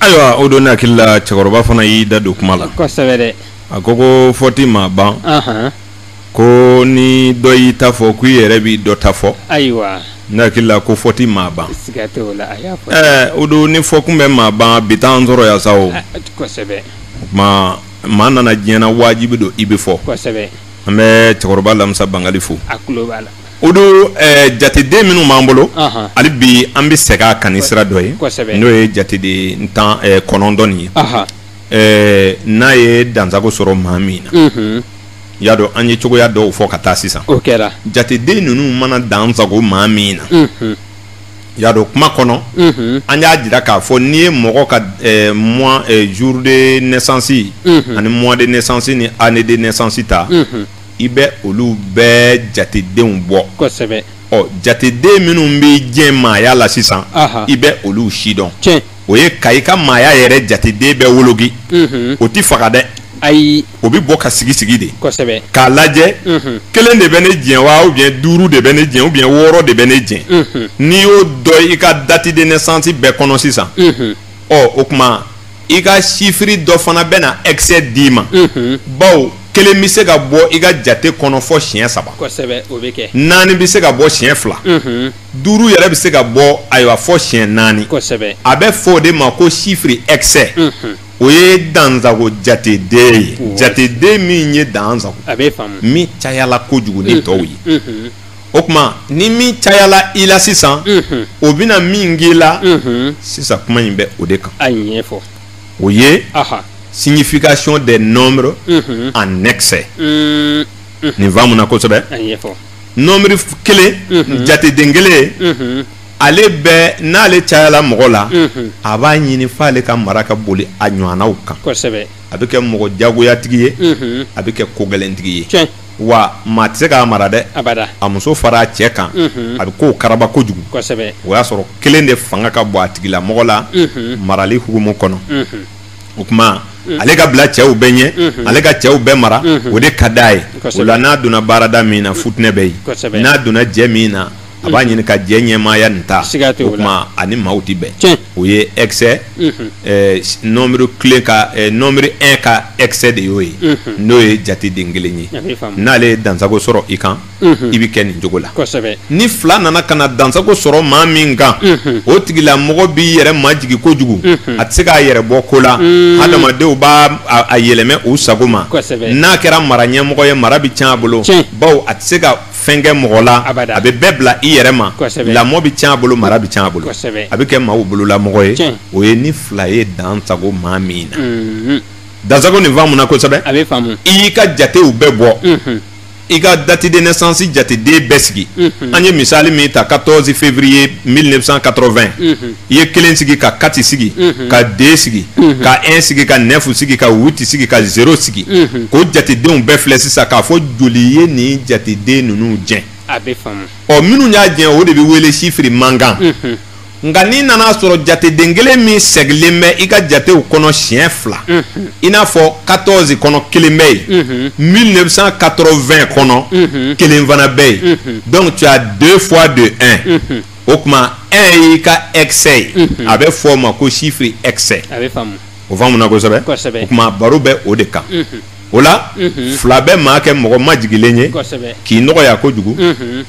Ayiwa o don ne hakili la cɛkɔrɔba fana y'i da don kuma la a ko ko fɔ tɛ maa ban ko ni dɔ y'i ta fɔ ko i yɛrɛ bɛ dɔ ta fɔ ne hakili la ko fɔ tɛ maa ban o don ni fɔ tun bɛ maa ban bi t'an sɔrɔ yan sa o maa mana na diɲɛ na wajibi don i bɛ fɔ an bɛ cɛkɔrɔba lamisa bangali fo O don jateden minnu b'an bolo hali bi an bɛ segin a kan sira dɔ ye n'o ye jateden tan kɔnɔntɔn ye n'a ye dansago sɔrɔ maa min na y'a dɔn an ye cogoya dɔw fɔ ka taa sisan o kɛra jateden ninnu mana dansago maa min na y'a dɔn kuma kɔnɔ an y'a jira k'a fɔ n'i ye mɔgɔ ka mois jour de naissance ani mois de naissance ni année de naissance ta i bɛ olu bɛɛ jatedenw bɔ kosɛbɛ ɔ jateden minnu b'i jɛn maaya la sisan i bɛ olu si dɔn o ye ka i ka maaya yɛrɛ jateden bɛɛ woloki o tɛ faga dɛ ayi o bɛ bɔ ka sigi sigi de kosɛbɛ k'a lajɛ kelen de bɛ ne jɛn wa o bɛ yen duuru de bɛ ne jɛn o bɛ yen wɔɔrɔ de bɛ ne jɛn n'i y'o dɔn i ka date de naissance bɛɛ kɔnɔ sisan ɔ o tuma i ka sifiri dɔ fana bɛna excès d'i ma mhm. bawo kelen bɛ se ka bɔ i ka jate kɔnɔ fɔ siɲɛ saba kosɛbɛ o bɛ kɛ naani bɛ se ka bɔ siɲɛ fila mhm. duuru yɛrɛ bɛ se ka bɔ ayiwa fɔ siɲɛ naani kosɛbɛ a bɛ fɔ o de ma ko sifiri excès mhm. o ye dansago jateden ye jateden min ye dansago a bɛ faamu min cayala kojugu ni tɔw ye o tuma ni min cayala i la sisan o bɛna min k'i la sisan kuma in bɛ o de kan a ɲɛfɔ o ye signification des nombres en excès nin faamuna kosɛbɛ a ɲɛfɔ nombre kelen jateden kelen ale bɛ n'ale cayala mɔgɔ la a b'a ɲini f'ale ka mara ka boli a ɲɔgɔnnaw kan kosɛbɛ a bɛ kɛ mɔgɔ jagoyatigi ye a bɛ kɛ kogɛlɛntigi ye wa maa tɛ se k'a mara dɛ a muso fara a cɛ kan a bɛ ko karaba kojugu o y'a sɔrɔ kelen de fanga ka bon a tigi la mɔgɔ lamarali hukumu kɔnɔ o tuma ale ka bila cɛw bɛɛ ɲɛ ale ka cɛw bɛɛ mara o de ka di a ye o la n'a donna baarada min na fitinɛ bɛ yen n'a donna jɛ min na a b'a ɲini ka jɛ ɲɛmaaya nin ta o tuma ani maaw tɛ bɛn o ye excès nombre kelen ka nombre un ka excès de y'o ye n'o ye jateden kelen ye n'ale ye dansago sɔrɔ i kan i bɛ kɛ nin cogo la ni fila nana ka na dansago sɔrɔ maa min kan o tigilamɔgɔ b'i yɛrɛ majigin kojugu a tɛ se k'a yɛrɛ bɔ ko la hadamadenw b'a a yɛlɛmɛ u sago ma n'a kɛra mara ɲɛmɔgɔ ye mara bɛ tiɲɛ a bolo baw a tɛ se ka fɛnkɛ mɔgɔ la a bɛ bɛɛ bila i yɛrɛ ma lamɔ bɛ tiɲɛ a bolo mara bɛ tiɲɛ a bolo a bɛ kɛ maaw bololamɔgɔ ye o ye ni fila ye dansago maa min na mhm. dansago nin faamuna kosɛbɛ a bɛ faamu i y'i ka jatew bɛɛ bɔ mhm. i ka date de naissance jateden bɛɛ sigi mhm. an ye misali min ta 14 février 1980 i ye kelen sigi ka quatre sigi mhm. ka deux sigi mhm. ka un sigi ka neuf sigi ka huit sigi ka zéro sigi mhm. k'o jatedenw bɛɛ filɛ sisan k'a fɔ joli ye nin jateden ninnu jɛn ɔ minnu y'a jɛn o de bɛ wele chiffre manquant nka n'i nana a sɔrɔ jateden kelen min sɛgilen bɛ i ka jatew kɔnɔ siɲɛ fila i n'a fɔ 14 kɔnɔ kelen bɛ yen 1980 kɔnɔ kelen fana bɛ yen donc tu as deux fois de un o tuma un y'i ka excès ye mhm. a bɛ fɔ o ma ko chiffre excès a bɛ faamu o faamuna kosɛbɛ kosɛbɛ o tuma baro bɛ o de kan mhm. o la mhm. fila bɛ maa kɛ mɔgɔ majigilen ye kosɛbɛ k'i nɔgɔya kojugu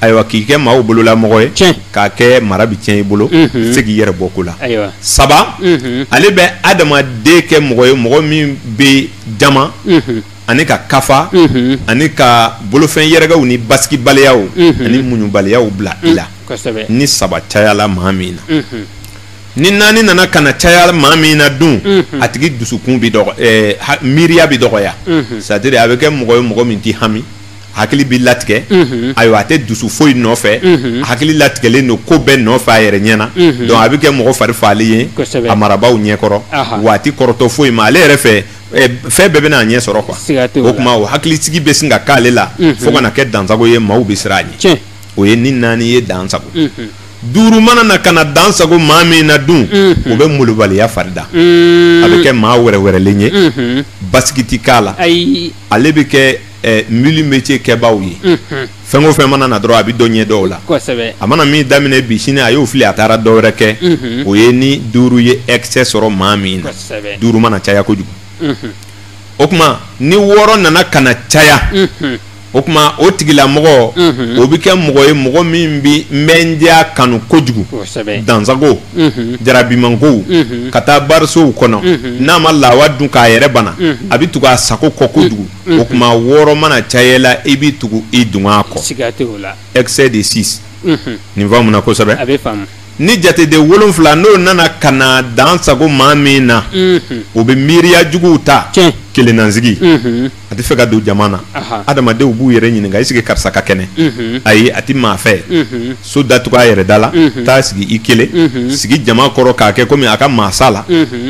ayiwa k'i kɛ maaw bololamɔgɔ ye tiɲɛ k'a kɛ mara bɛ tiɲɛ i bolo i tɛ se k'i yɛrɛ bɔ ko la ayiwa saba ale bɛ adamaden kɛ mɔgɔ ye mɔgɔ min bɛ jama ani ka kafa ani ka bolofɛn yɛrɛkɛw ni basigibaliya ani muɲubaliya bila i la ni saba cayala maa min na ni naani nana ka na caya maa min na dun a tigi dusukun na miiriya bɛ dɔgɔya c'est-à-dire a bɛ kɛ mɔgɔ ye mɔgɔ min tɛ hami hakili bɛ latigɛ ayiwa a tɛ dusu foyi nɔfɛ hakili latigɛlen don ko bɛɛ nɔfɛ a yɛrɛ ɲɛ na a bɛ kɛ mɔgɔ farifaga ye a marabaaw ɲɛkɔrɔ wa a tɛ kɔrɔtɔ foyi ma ale yɛrɛ fɛ Eh, fɛn bɛɛ bɛna a ɲɛ sɔrɔ quoi siga t'o la. o tuma o hakilisigi bɛ sin ka k'ale la fo ka na kɛ dansago ye maaw bɛ siran a ɲɛ tiɲɛ o ye ni naani ye dansago duuru mana na ka na dansago maa min na dun o bɛ molobaliya fari da a bɛ kɛ maa wɛrɛwɛrɛlen ye basigi ti k'a la ayi ale bɛ kɛ eh, mille métiers kɛbaaw ye fɛn o fɛn mana na dɔrɔn a bɛ dɔ ɲɛdɔn o la a mana min daminɛ bi sini a y'o fili a taara dɔwɛrɛ kɛ mhm. o ye ni duuru ye excès sɔrɔ maa min na duuru mana caya kojugu mhm. o tuma ni wɔɔrɔ nana ka na caya mhm. o tuma o tigilamɔgɔ o bɛ kɛ mɔgɔ ye mɔgɔ min bɛ mɛndiya kanu kojugu dansago jarabimankow ka taa barisow kɔnɔ n'a ma lawa dun k'a yɛrɛ bana a bɛ tugu a sago kɔ kojugu o tuma wɔɔrɔ mana caya i la i bɛ tugu i dungɔ kɔ excès de six nin faamuna kosɛbɛ ni jateden wolonfila n'o nana ka na dan sago maa min na o bɛ miiriya juguw ta kelennansigi a tɛ fɛ ka don jama na adamadenw b'u yɛrɛ ɲininka est-ce que karisa ka kɛnɛ ayi a tɛ maa fɛ so datugu a yɛrɛ da la taa sigi i kelen sigi jama kɔrɔ k'a kɛ komi a ka maa sala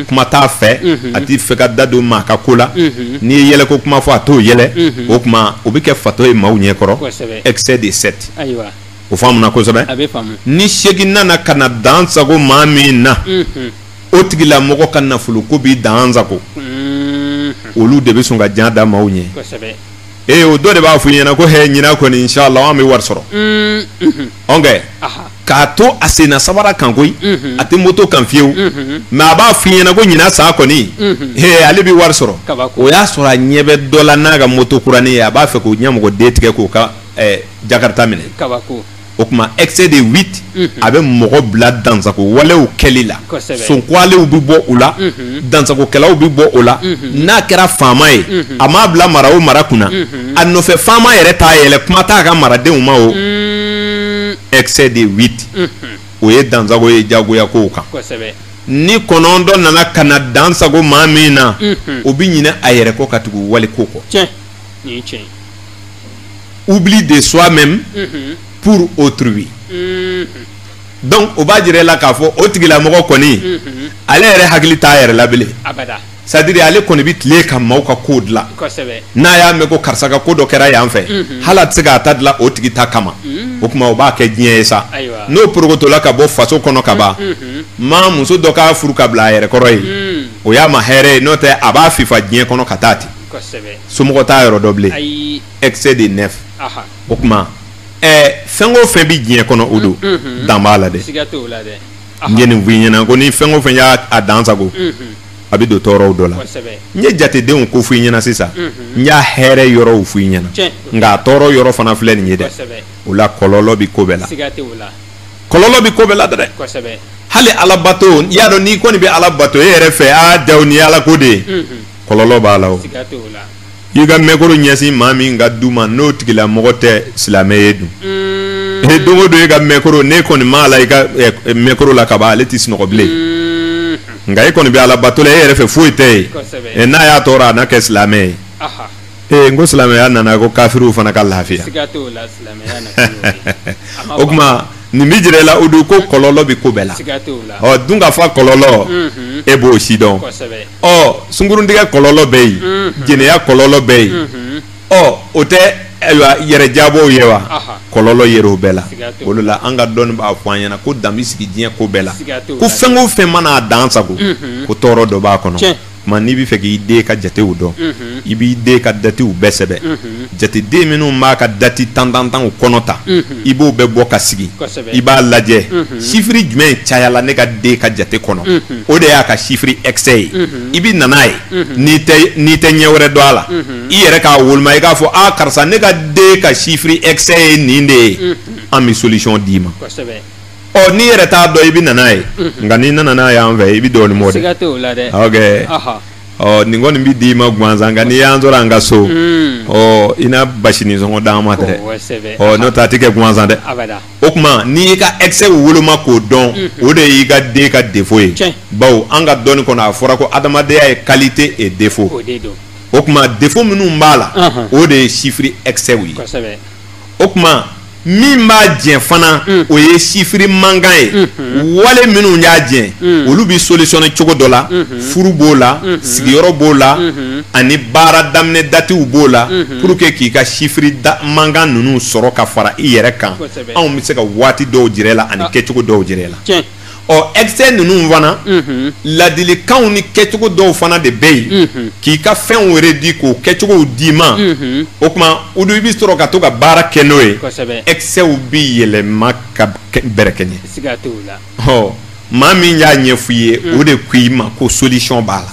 kuma t'a fɛ a t'a fɛ k'a da don maa ka ko la n'i ye yɛlɛko kuma fɔ a t'o yɛlɛ o tuma o bɛ kɛ fatɔ ye maaw ɲɛ kɔrɔ excès de sept o faamuna kosɛbɛ ni seegin nana ka na dan sago maa min na o tigila mɔgɔ ka nafolo ko b'i dan sago olu de bɛ sɔn ka jan da maaw ɲɛ ee o dɔ de b'a fɔ i ɲɛna ko hɛ ɲinan kɔni inshallah an bɛ wari sɔrɔ ɔnkɛ k'a to a senna sabara kan koyi a tɛ moto kan fiyewu mais a b'a fɔ i ɲɛna ko ɲinan sa kɔni hee ale bɛ wari sɔrɔ o y'a sɔrɔ a ɲɛ bɛ dɔ la n'a ka moto kuranin ye a b'a fɛ k'o ɲamɔgɔden tigɛ k'o ka jakarita minɛ o tuma excès de huit a bɛ mɔgɔ bila dansago walew kɛli la sonkwalew bɛ bɔ o la dansagokɛlaw bɛ bɔ o la n'a kɛra faama ye a m'a bila mara o mara kunna a nɔfɛ faama yɛrɛ t'a yɛlɛ kuma t'a ka maradenw ma o excès de huit o ye dansago ye jagoya kow kan ni kɔnɔntɔn nana ka na dan sago maa min na o bɛ ɲinɛ a yɛrɛ kɔ ka tugu waliko kɔ. oubli de soi même mhm. pour autrui mhm. donc o b'a jira e la k'a fɔ o tigilamɔgɔ kɔni mhm. ale yɛrɛ hakili t'a yɛrɛ la bilen c'est à dire ale kɔni bɛ tile ka maaw ka kow dilan n'a y'a mɛn ko karisa ka ko dɔ kɛra yan fɛ hali a tɛ se k'a ta dilan o tigi ta kama o tuma o b'a kɛ diɲɛ ye sa n'o porokotola ka bɔ faso kɔnɔ ka ban maa muso dɔ k'a furu ka bila a yɛrɛ kɔrɔ ye o y'a ma hɛrɛ ye n'o tɛ a b'a fifa diɲɛ kɔnɔ ka taa ten somɔgɔ t'a yɔrɔ dɔn bilen excès de neuf o tuma fɛn o fɛn bɛ diɲɛ kɔnɔ o don dan b'a la dɛ n ye nin f'i ɲɛna ko ni fɛn o fɛn y'a dan sago a bɛ don tɔɔrɔw dɔ la n ye jatedenw ko f'i ɲɛna sisan n y'a hɛrɛ yɔrɔw f'i ɲɛna nka a tɔɔrɔ yɔrɔ fana filɛ nin ye dɛ o la kɔlɔlɔ bɛ ko bɛɛ la kɔlɔlɔ bɛ ko bɛɛ la dɛ hali alabato y'a dɔn n'i kɔni bɛ ala bato e yɛrɛ fɛ aa dawu ni ala ko de ye kɔlɔlɔ b'a la o i ka mɛkoro ɲɛsin maa min ka du ma n'o tigila mɔgɔ tɛ silamɛ ye dun mm. e don don i ka mɛkoro n'e kɔni maala i ka mɛkoro la kaban ale tɛ sunɔgɔ bilen mm. nka e kɔni bɛ ala bato e yɛrɛ fɛ foyi tɛ yen n'a y'a tɔɔrɔ a na kɛ silamɛ ye ee n ko silamɛya nana ko kafiriw fana ka lafiya o tuma nin bɛ jira i la o de ko kɔlɔlɔ bɛ ko bɛɛ la ɔ dunkafa kɔlɔlɔ mhm. e b'o sidɔn ɔ sunguruntigɛ kɔlɔlɔ bɛ yen mhm. jɛnɛya kɔlɔlɔ bɛ yen mhm. ɔ o tɛ ayiwa yɛrɛ diyabɔw ye wa kɔlɔlɔ yɛrɛ o bɛɛ la o de la an ka dɔnni b'a fɔ an ɲɛna ko dan bɛ sigi diɲɛ ko bɛɛ la ko fɛn o fɛn mana a dan sago ko tɔɔrɔ dɔ b'a kɔnɔ tuma n'i bɛ fɛ k'i den ka jatew dɔn i b'i den ka datiw bɛɛ sɛbɛn jateden minnu b'a ka dati tan tan tan kɔnɔ ta i b'o bɛɛ bɔ ka sigi i b'a lajɛ sifiri jumɛn cayala ne ka den ka jate kɔnɔ o de y'a ka sifiri ɛkisɛ ye i bɛ na n'a ye n'i tɛ ɲɛ wɛrɛ dɔn a la i yɛrɛ k'a woloma i k'a fɔ aa karisa ne ka den ka sifiri ɛkisɛ ye nin de ye an bɛ solisɔn d'i ma ɔ n'i yɛrɛ t'a dɔn i bɛ na n'a ye nka n'i nana n'a y'an fɛ i bɛ dɔɔnin bɔ dɛ siga t'o la dɛ ok Aha. ɔ nin kɔni bɛ d'i ma gansan nka n'i y'an sɔrɔ an ka so Mm. ɔ i na basinin sɔngɔ d'an ma dɛrɛ Kosɛbɛ. ɔ n'o tɛ a tɛ kɛ gansan dɛ abada o tuma n'i y'i ka excès woloma k'o dɔn o de y'i ka den ka défaut ye Tiɲɛ. bawo an ka dɔnni kɔnɔ a fɔra ko adamadenya ye qualité et défaut o de don o tuma défaut minnu b'a la Ahan. o de ye chiffre excès ye kosɛbɛ o tuma min b'a jɛ fana mm. o ye sifiri mankan ye mm-hmm. wale minnu y'a jɛ mm. olu bɛ solisɔne cogo dɔ la mm-hmm. furu b'o la mm-hmm. sigiyɔrɔ b'o la ani baara daminɛ datiw b'o la pour que k'i ka sifiri mankan ninnu sɔrɔ ka fara i yɛrɛ kan anw bɛ se ka waati dɔw jira i la ani ah. kɛcogo dɔw jira i la ɔ excès ninnu fana ladilikanw ni kɛcogo dɔw fana de bɛ yen k'i ka fɛnw yɛrɛ di k'o kɛcogow d'i ma o tuma u i bɛ sɔrɔ ka to ka baara kɛ n'o ye excès bɛ yɛlɛma ka bɛrɛkɛɲɛ maa min y'a ɲɛf'i ye o de ko i ma ko solution b'a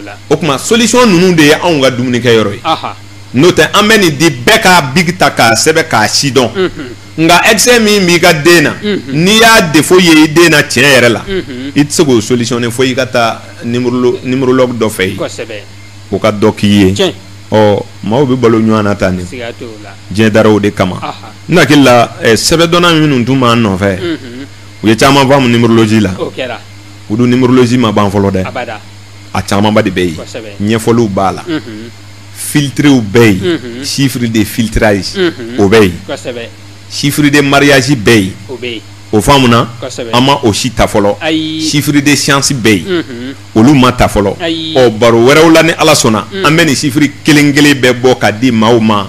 la o tuma solution ninnu de ye anw ka dumunikɛ yɔrɔ ye n'o tɛ an bɛ nin di bɛɛ ka biki ta k'a sɛbɛn k'a sidɔn nka excès min b'i ka den na n'i y'a défaut ye i den na tiɲɛ yɛrɛ la i tɛ se k'o solutionner fo i ka taa numérologue dɔ fɛ yen o ka dɔ k'i ye ɔ maaw bɛ balo ɲɔgɔn na tan de diɲɛ dara o de kama n hakili la eh, sɛbɛdɔnna minnu tun b'an nɔfɛ u ye caman faamu numérologie la o dun numérologie ma ban fɔlɔ dɛ a camanba de bɛ yen ɲɛfɔliw b'a la filtrew bɛ yen chiffre de filtrage o bɛ yen chiffre de mariage bɛ yen o faamuna an ma o si ta fɔlɔ chiffre de chance bɛ yen olu ma ta fɔlɔ ɔ baro wɛrɛw la ni ala sɔnna an bɛ nin sifiri kelen kelen bɛɛ bɔ ka di maaw ma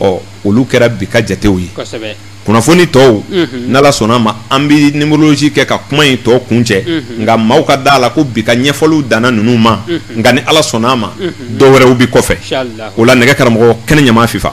ɔ olu kɛra bi ka jatew ye kunnafoni tɔw n'ala sɔnna a ma an bɛ nimerolosi kɛ ka kuma in tɔ kun cɛ nka maaw ka da a la ko bi ka ɲɛfɔliw danna ninnu ma nka ni ala sɔnna a ma dɔw wɛrɛw bɛ kɔfɛ o la nɛgɛ karamɔgɔ kɛnɛ ɲama fifa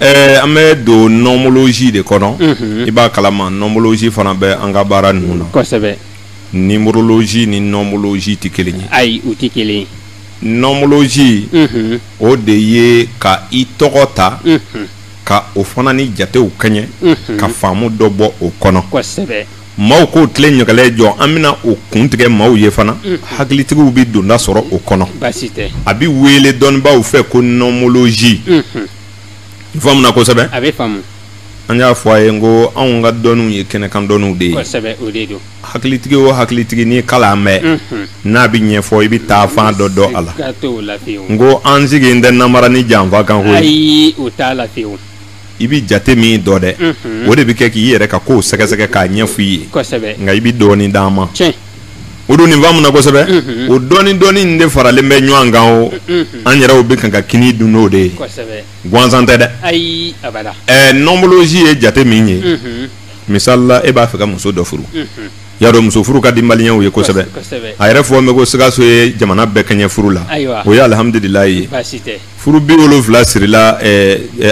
Ɛɛ an bɛ don nɔnmolosi de kɔnɔ i b'a kalama nɔnmolosi fana bɛ an ka baara ninnu na kosɛbɛ nimerolosi ni nɔnmolosi tɛ kelen ye ayi u tɛ kelen ye nɔnmolosi o de ye ka i tɔgɔ ta ka o fana ni jatew kɛɲɛ ka faamu dɔ bɔ o kɔnɔ kosɛbɛ maaw k'o tile ɲaga jɔ an bɛna o kun tigɛ maaw ye fana hakilitigiw bɛ donda sɔrɔ o kɔnɔ baasi tɛ a bɛ wele dɔnnibaw fɛ ko nɔnmolosi Faamuna kosɛbɛ a bɛ faamu an y'a fɔ a ye n ko anw ka dɔnniw ye kɛnɛkan dɔnniw de ye hakilitigi o hakilitigi ni kalan bɛ n'a bɛ ɲɛ ɲɛfɔ i bɛ taa fan dɔ dɔn a la n ko an sigilen tɛ nanbara ni janfa kan i bɛ jate min dɔn dɛ o de bɛ kɛ k'i yɛrɛ ka ko sɛgɛsɛgɛ k'a ɲɛfɔ i ye nka i bɛ dɔɔnin d'a ma O don nin faamuna kosɛbɛ o dɔɔnin dɔɔnin de faralen bɛ ɲɔgɔn kan o an yɛrɛw bɛ kan ka kini dun o de ye gansan tɛ dɛ nɔnmolosi ye jate min ye misali la i b'a fɛ ka muso dɔ furu y'a dɔn muso furu ka di maliyɛnw ye kosɛbɛ a yɛrɛ fɔlen bɛ ko sikaso ye jamana bɛɛ kɛɲɛ furu la o ye alihamdulilayi ye furu biwolonwula sirila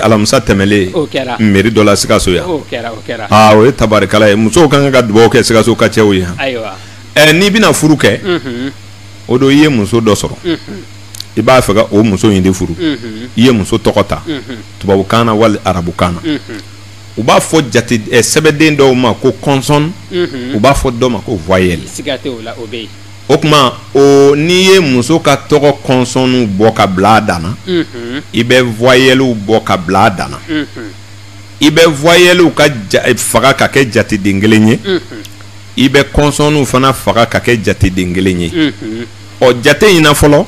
alamisa tɛmɛlen meri dɔ la sikaso yan o ye tabarikala ye musow ka kan ka dugawu kɛ sikaso ka cɛw ye yan n'i bɛna furu kɛ o don i ye muso dɔ sɔrɔ i b'a fɛ ka o muso in de furu i ye muso tɔgɔ ta tubabukan na wali arabukan na u b'a fɔ sɛbɛden dɔw ma ko kɔnsɔn u b'a fɔ dɔw ma ko vɔyɛli o tuma o n'i ye muso ka tɔgɔ kɔnsɔnw bɔ ka bila a danna i bɛ vɔyɛliw bɔ ka bila a danna i bɛ vɔyɛliw ka faga ka kɛ jateden kelen ye i bɛ kɔnsɔnw fana faga ka kɛ jateden kelen ye ɔ jate in fɔlɔ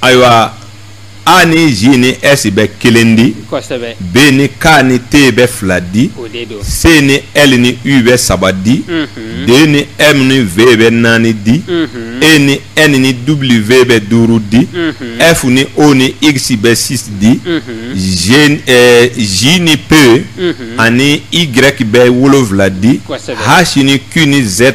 ayiwa a ni j ni s bɛ kelen di b ni k ni t bɛ fila di c ni l ni u bɛ saba di d ni m ni v bɛ naani di e ni n ni w bɛ duuru di f ni o ni x bɛ six di g ni p ani y bɛ wolonwula di h ni q ni z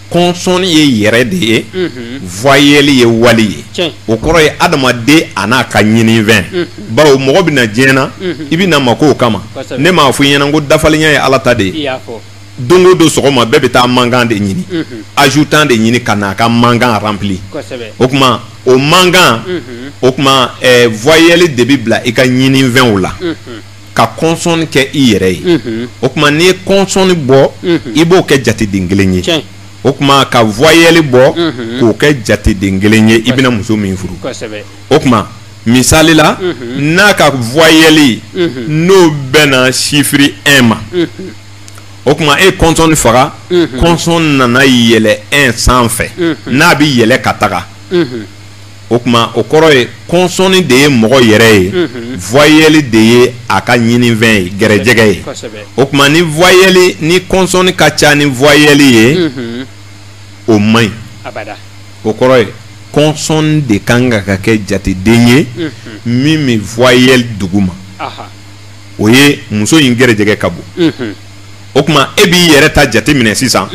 kɔnsɔn ye yɛrɛ de ye vwayeli ye wali ye o kɔrɔ ye adamaden a n'a ka ɲinifɛn bawo mɔgɔ bɛ na diɲɛ na i bɛ na makow kama ne m'a fɔ i ɲɛna ko dafalenya ye ala ta de ye don o don sɔgɔma bɛɛ bɛ taa manquant de ɲini ajoutant de ɲini ka na a ka manquant remplir o tuma o manquant o tuma vwayeli de bɛ bila i ka ɲinifɛnw la ka kɔnsɔnni kɛ i yɛrɛ ye mhm. o tuma n'i ye kɔnsɔnni bɔ mhm. i b'o kɛ jateden kelen ye o tuma ka voyelle bɔ mhm. k'o kɛ jateden kelen ye i bɛna muso min furu o tuma misali la n'a ka voyelle n'o bɛnna sifiri 1 ma o tuma i ye kɔnsɔnni faga kɔnsɔn nana yɛlɛ 1 sanfɛ n'a bɛ yɛlɛ ka taga o tuma o kɔrɔ ye kɔnsɔnni de ye mɔgɔ yɛrɛ ye voyelle de ye a ka ɲinifɛn ye gɛrɛjɛgɛ ye o tuma ni voyelle ni kɔnsɔnni ka ca ni voyelle ye o man ɲi o kɔrɔ ye kɔnsɔn de ka kan ka kɛ jateden ye min bɛ voyelle duguma o ye muso in gɛrɛjɛgɛ ka bon o tuma e b'i yɛrɛ ta jateminɛ sisan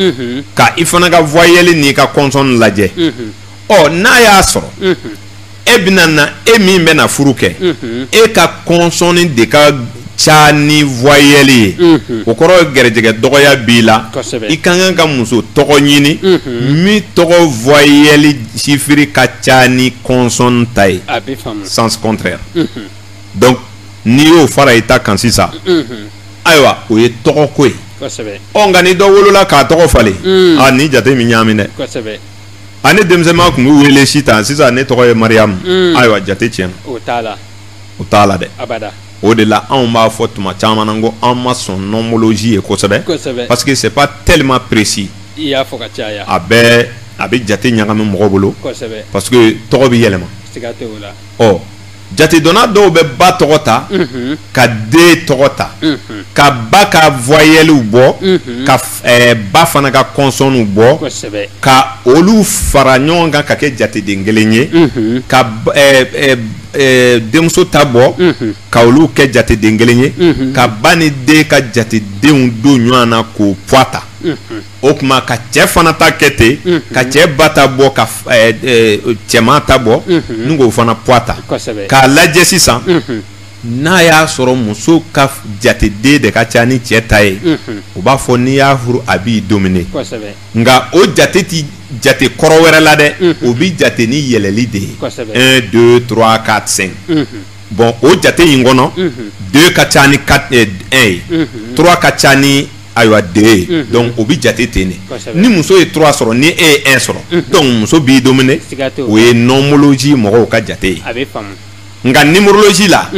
ka i fana ka voyelle n'i ka kɔnsɔn lajɛ ɔ n'a y'a sɔrɔ e bɛna na e min bɛna furu kɛ e ka kɔnsɔnni de ka ca ni voyelle ye o kɔrɔ ye gɛrɛjɛgɛ dɔgɔya b'i la i ka kan ka muso tɔgɔ ɲini min tɔgɔ voyelle chiffre ka ca ni kɔnsɔn ta ye sens contraire donc n'i y'o fara i ta kan sisan ayiwa o ye tɔgɔ ko ye ɔ nka ni dɔ wolola k'a tɔgɔ falen a ni jateminɛ ɲaami dɛ a ne denmisɛnman tun bɛ wele sitan sisan ne tɔgɔ ye mariamu ayiwa jate tiɲɛna o ta la o ta la dɛ o de la anw b'a fɔ tuma caman na ko an ma sɔn prénomologie ye kosɛbɛ parce que c'est pas tellement précis i y'a faamuya a bɛ a bɛ jate ɲagami mɔgɔ bolo parce que tɔgɔ bɛ yɛlɛma ɔ jatedɔnna dɔw bɛ ba tɔgɔ ta mhm. ka den tɔgɔ ta mhm. ka ba ka voyelles bɔ mhm. ka eh, ba fana ka consonnes bɔ ka olu fara ɲɔgɔn kan ka kɛ jateden kelen ye ka eh, eh, eh, denmuso ta bɔ ka olu kɛ jateden kelen ye ka ba ni den ka jatedenw don ɲɔgɔn na k'o poids ta. o tuma ka cɛ fana ta kɛ ten mhm. ka cɛ ba ta bɔ ka eh, eh, cɛman ta bɔ mhm. ni k'o fana poids ta k'a lajɛ sisan mhm. n'a y'a sɔrɔ muso ka jateden de ka ca ni cɛ ta ye u b'a fɔ n'i y'a furu a b'i domine nka o jate ti jate kɔrɔ wɛrɛ la dɛ o bi jate ni yɛlɛli de ye un deux trois quatre cinq bɔn o jate in kɔnɔ deux ka ca ni quatre eh, un ye trois ka ca ni ayiwa de donc o bɛ jate ten de ni muso ye trois sɔrɔ ni e ye un sɔrɔ donc muso b'i dominer o ye nomologie mɔgɔw ka jate ye nka numérologie la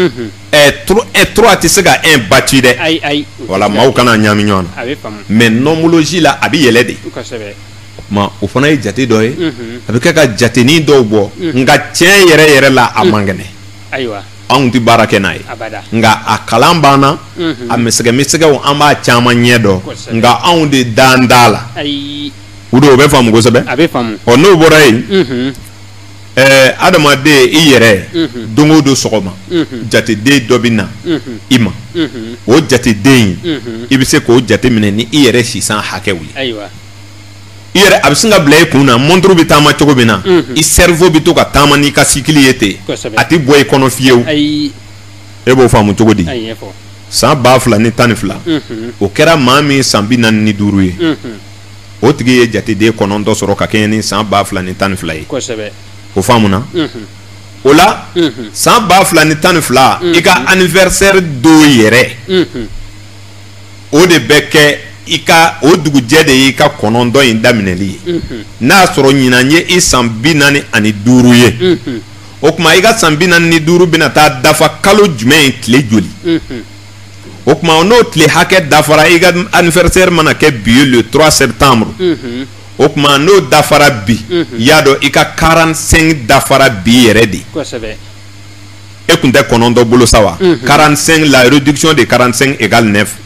trois tɛ se ka un battre dɛ wala mɔgɔw kana ɲami ɲɔgɔn na mais nomologie la a bɛ yɛlɛ de o fana ye jate dɔ ye a bɛ kɛ ka jateni dɔw bɔ nka tiɲɛ yɛrɛ yɛrɛ la a man kɛnɛ anw tɛ baara kɛ n'a ye nka a kalan banna a misɛnsɛ misɛnsɛgɛ an b'a caman ɲɛdɔn nka anw de dan da la o don o bɛ faamu kosɛbɛ ɔ n'o bɔra yen adamaden i yɛrɛ don o don sɔgɔma jateden dɔ bɛ na i ma o jateden in i bɛ se k'o jateminɛ ni i yɛrɛ si san hakɛw ye i yɛrɛ a bɛ sin ka bila i kun na mɔnturu bɛ taama cogo min na i cerveau bɛ to ka taama n'i ka cycle ye ten a tɛ bɔ i kɔnɔ fiyewu e b'o faamu cogo di san ba fila ni tan ni fila o kɛra maa min san bi naani ni duuru ye o tigi ye jateden kɔnɔntɔn sɔrɔ ka kɛɲɛ ni san ba fila ni tan ni fila ye o faamuna o la san ba fila ni tan ni fila i ka anniversaire don yɛrɛ o de bɛ kɛ i ka o dugujɛ de y'i ka kɔnɔntɔn in daminɛli ye n'a y'a sɔrɔ ɲinan ye i san bi naani ani duuru ye o tuma i ka san bi naani ni duuru bɛna taa dafa kalo jumɛn in tile joli o tuma n'o tile hakɛ dafara i ka anniversaire mana kɛ bi ye le trois septembre o tuma n'o dafara bi i y'a dɔn i ka quarante-cinq dafara bi yɛrɛ de e tun tɛ kɔnɔntɔn bolo sa wa quarante-cinq la réduction de quarante-cinq égale neuf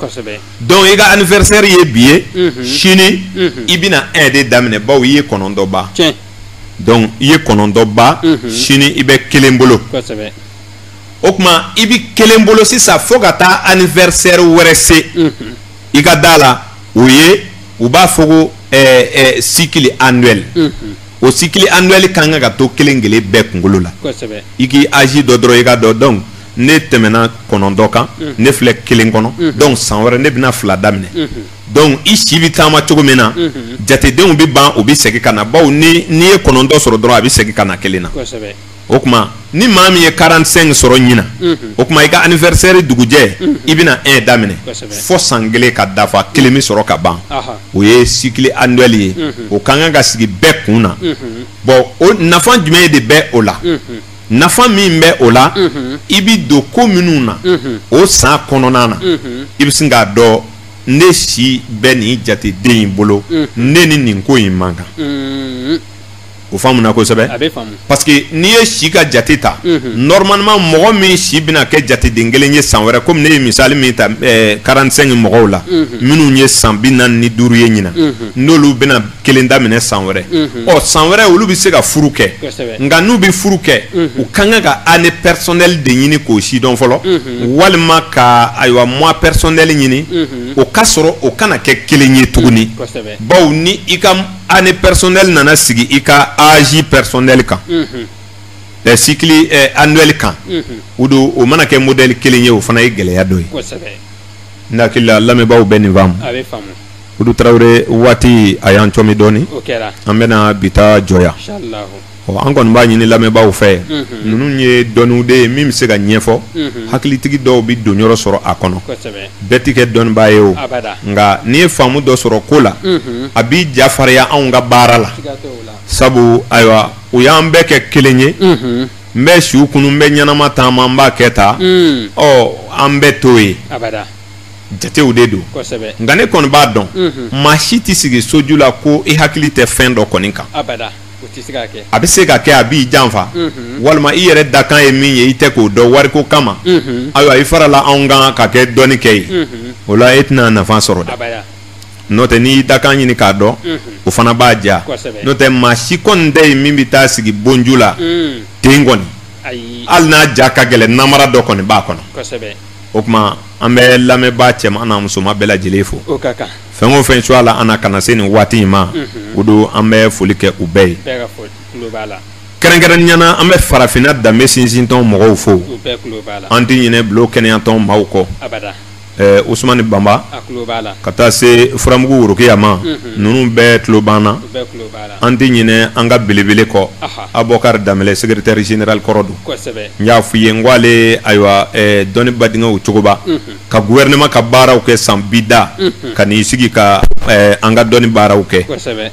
donc i ka anniversaire ye bi ye sini i bɛna un de daminɛ baw i ye kɔnɔntɔn ban donc i ye kɔnɔntɔn ban sini i bɛ kelen bolo o tuma i bɛ kelen bolo sisan fo ka taa anniversaire wɛrɛ se i ka da la o ye u b'a fɔ ko cycle annuel o cycle annuel ka kan ka to kelen kelen bɛɛ kunkolo la i k'i âge dɔn dɔrɔn i k'a dɔn donc ne tɛmɛna kɔnɔntɔn kan ne filɛ kelen kɔnɔ donc san wɛrɛ ne bɛna fila daminɛ donc i si bɛ taama cogo min na jatedenw bɛ ban u bɛ segin ka na baw n'i ye kɔnɔntɔn sɔrɔ dɔrɔn a bɛ segin ka na kelen na o tuma ni maa min ye 45 sɔrɔ ɲinan o tuma i ka anniversaire dugujɛ i bɛna 1 daminɛ fo san kelen ka dafa kelen bɛ sɔrɔ ka ban o ye cycle annuel ye o ka kan ka sigi bɛɛ kun na bon nafa jumɛn de bɛ o la nafa min bɛ o la i bɛ don ko minnu na o san kɔnɔna na i bɛ se k'a dɔn ne si bɛ nin jateden in bolo ne ni nin ko in man kan. o faamuna kosɛbɛ a bɛ faamu parce que n'i ye si ka jate ta mhm. normalement mɔgɔ min si bɛna kɛ jateden kelen ye san wɛrɛ komi ne ye misali min ta 45 eh, mɔgɔw la mhm. minnu ye san bi naani ni duuru ye ɲinan mhm. n'olu bɛna kelen daminɛ san wɛrɛ ɔ san wɛrɛ olu bɛ se ka furu kɛ nka n'u bɛ furu kɛ u ka kan ka année personnelle de ɲini k'o sidɔn fɔlɔ walima ka ayiwa mois personnel ɲini o ka sɔrɔ o kana kɛ kelen ye tuguni bawo ni i ka année personnelle nana sigi i ka âge personnel kan ɛ cycle annuel kan o don o mana kɛ modèle kelen ye o fana ye gɛlɛya dɔ ye n hakili la lamɛnbaaw bɛ nin faamu olu tarawele waati a y'an cɔmi dɔɔnin an bɛna bi ta jɔ yan an kɔni b'a ɲini lamɛnbaaw fɛ ninnu ye dɔnniw de ye min bɛ se ka ɲɛfɔ hakilitigi dɔw bɛ don yɔrɔ sɔrɔ a kɔnɔ bɛɛ tɛ kɛ dɔnnibaa ye o nka n'i ye faamu dɔ sɔrɔ ko la a b'i ja farinya anw ka baara la sabu ayiwa u y'an bɛɛ kɛ kelen ye n bɛ su kunun n bɛ ɲɛnama taama n b'a kɛ tan ɔ an bɛɛ to ye jatew de don nka ne kɔni b'a dɔn maa si tɛ sigi soju la ko i hakili tɛ fɛn dɔ kɔni kan a bɛ se ka kɛ a b'i janfa walima i yɛrɛ dakan ye min ye i tɛ k'o dɔn wari ko kama ayiwa i farala a kan ka kɛ dɔnnikɛ ye o la e tɛna nafa sɔrɔ dɛ n'o tɛ n'i dakan ɲini k'a dɔn o fana b'a diya n'o tɛ maa si kɔni tɛ yen min bɛ taa sigi bonju la ten kɔni hali n'a ja ka gɛlɛn namara dɔ kɔni b'a kɔnɔ o tuma an bɛ lamɛnbaa cɛman n'a musoman bɛɛ lajɛlen fo fɛn o fɛn cogoya la an kana se nin waati in ma o don an bɛ foli kɛ u bɛɛ ye kɛrɛnkɛrɛnnenya la an bɛ farafinna danbe sinsintɔn mɔgɔw fo an tɛ ɲinɛ bulon kɛnɛyatɔn maaw kɔ usumani banba ka taa se furamugu worokiya ma ninnu bɛɛ tulo b'an na an tɛ ɲinɛ an ka belebele kɔ abokari danbɛlɛ secrétaire général kɔrɔ don n y'a fɔ i ye n ko ale ayiwa dɔnniba denkɛ cogoba ka gouvernement ka baaraw kɛ san bi da mhm. ka n'i sigi ka eh, an ka dɔnni baaraw kɛ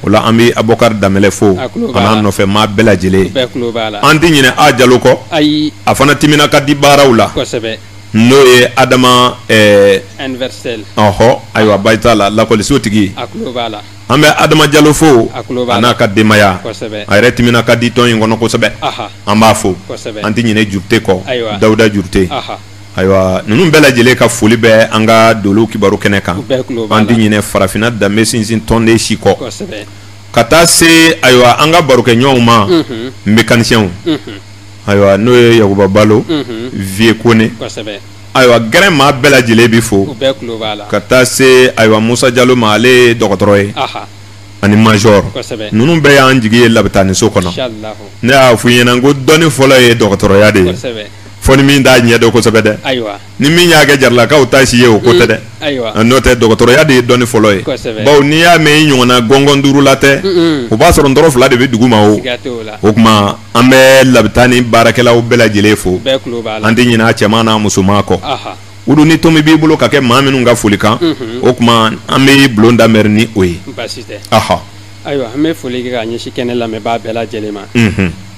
o la an bɛ abokari danbɛlɛ fo a n'a nɔfɛ maa bɛɛ lajɛlen an tɛ ɲinɛ a jalo kɔ a fana timina ka di baaraw la n'o ye adama eh, ɔhɔ ayiwa bayitala lakɔliso tigi an bɛ adama jalo fo a n'a ka denbaya a yɛrɛ timina ka di tɔn in kɔnɔ kosɛbɛ an b'a fo an tɛ ɲinɛ jurute kɔ dawuda jurute ayiwa ninnu bɛɛ lajɛlen ka foli bɛ an ka dolo kibaru kɛnɛ kan an tɛ ɲinɛ farafinna danbe sinsin tɔnden si kɔ ka taa se ayiwa an ka barokɛɲɔgɔnw ma mekanisiyɛnw ayiwa n'o ye yakuba balo viye kone ayiwa gɛrɛ maa bɛɛ lajɛlen bɛ fo ka taa se ayiwa musa jalo ma ale ye dɔgɔtɔrɔ ye ani mazɔrɔ ninnu bɛɛ y'an jigi ye labitaniso kɔnɔ ne y'a fɔ ɲɛna ko dɔnni fɔlɔ ye dɔgɔtɔrɔya de ye fo ni min t'a ɲɛ dɔn kosɛbɛ dɛ ayiwa ni min y'a kɛ jaralakaw ta si ye o ko tɛ dɛ mm, ayiwa ah, n'o tɛ dɔgɔtɔrɔya de ye dɔnni fɔlɔ ye kosɛbɛ bawo n'i y'a mɛn i ɲɔgɔnna gɔngɔn duurula tɛ o b'a sɔrɔ ntɔrɔn fila de bɛ dugu ma o o tuma an bɛ labitani baarakɛlaw bɛɛ lajɛlen fo an tɛ ɲinɛ a cɛman n'a musoman kɔ wulu ni tomi b'i bolo ka kɛ maa minnu ka foli kan o tuma an bɛ bulon damɛri ni o ye ayiwa an bɛ foli kɛ ka ɲɛsin kɛnɛ lamɛnbaa bɛɛ lajɛlen ma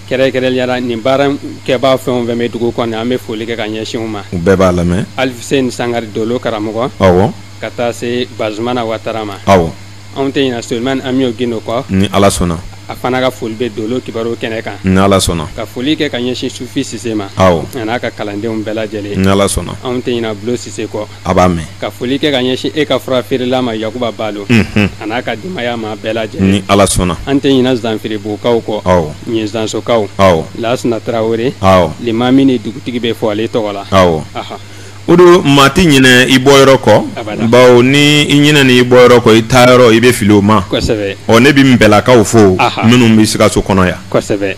kɛrɛnkɛrɛnnenya la nin baarakɛbaa fɛn o fɛn bɛ dugu kɔnɔ an bɛ foli kɛ ka ɲɛsin u ma u bɛɛ b'a lamɛn alisɛni sangare dolo karamɔgɔ aw ka taa se bazumana watara ma aw anw tɛ ɲina solomani an bɛ'o gindo kɔ ni ala sɔnna a fana ka foli bɛ dolo kibaruw kɛnɛ kan ni ala sɔnna ka foli kɛ ka ɲɛsin sufi sise ma a n'a ka kalandenw bɛɛ lajɛlen ni ala sɔnna anw tɛ ɲina bulon sise kɔ a b'a mɛn ka foli kɛ ka ɲɛsin e ka furafeerela ma yakuba balo a n'a ka denbaya maa bɛɛ lajɛ ni ala sɔnna an tɛ ɲina zanfiribugukaw kɔ aw ɲin zansokaw aw lasina tarawele alimami ni dugutigi bɛ fo ale tɔgɔ la aw o don maa tɛ ɲinɛ i bɔyɔrɔ kɔ bawo ni i ɲinɛna i bɔyɔrɔ kɔ i taayɔrɔ i bɛ fili o ma ɔ ne bɛ nbɛɛlakaw fo minnu bɛ sikaso kɔnɔ yan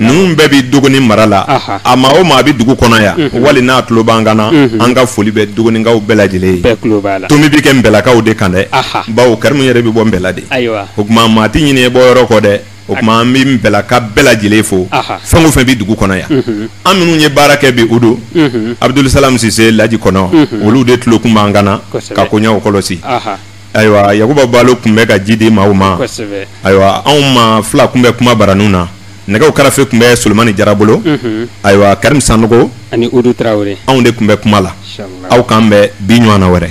ninnu bɛɛ bɛ dogoni mara la a maa o maa bɛ dugu kɔnɔ yan wali n'a tulo b'an kan na an ka foli bɛ dogonikaw bɛɛ lajɛlen ye tɔ bɛ kɛ nbɛɛlakaw de kan dɛ bawo karimu yɛrɛ bɛ bɔ nbɛɛla de o tuma maa tɛ ɲinɛ i bɔyɔrɔ kɔ dɛ o tuma an bɛ nbɛɛlaka bɛɛ lajɛlen fo fɛn o fɛn bɛ dugu kɔnɔ yan an minnu ye baara kɛ bi o don abudusalamu sise laji kone olu de tulo tun b'an kan na ka koɲɛw kɔlɔsi ayiwa yakuba balo tun bɛ ka ji di maaw ma ayiwa anw maa fila tun bɛ kumabaraninw na nɛgɛw karafe tun bɛ solomani jara bolo mhm. ayiwa karimu sanɔgɔ ani anw de tun bɛ kuma la aw k'an bɛn bi ɲɔgɔnna wɛrɛ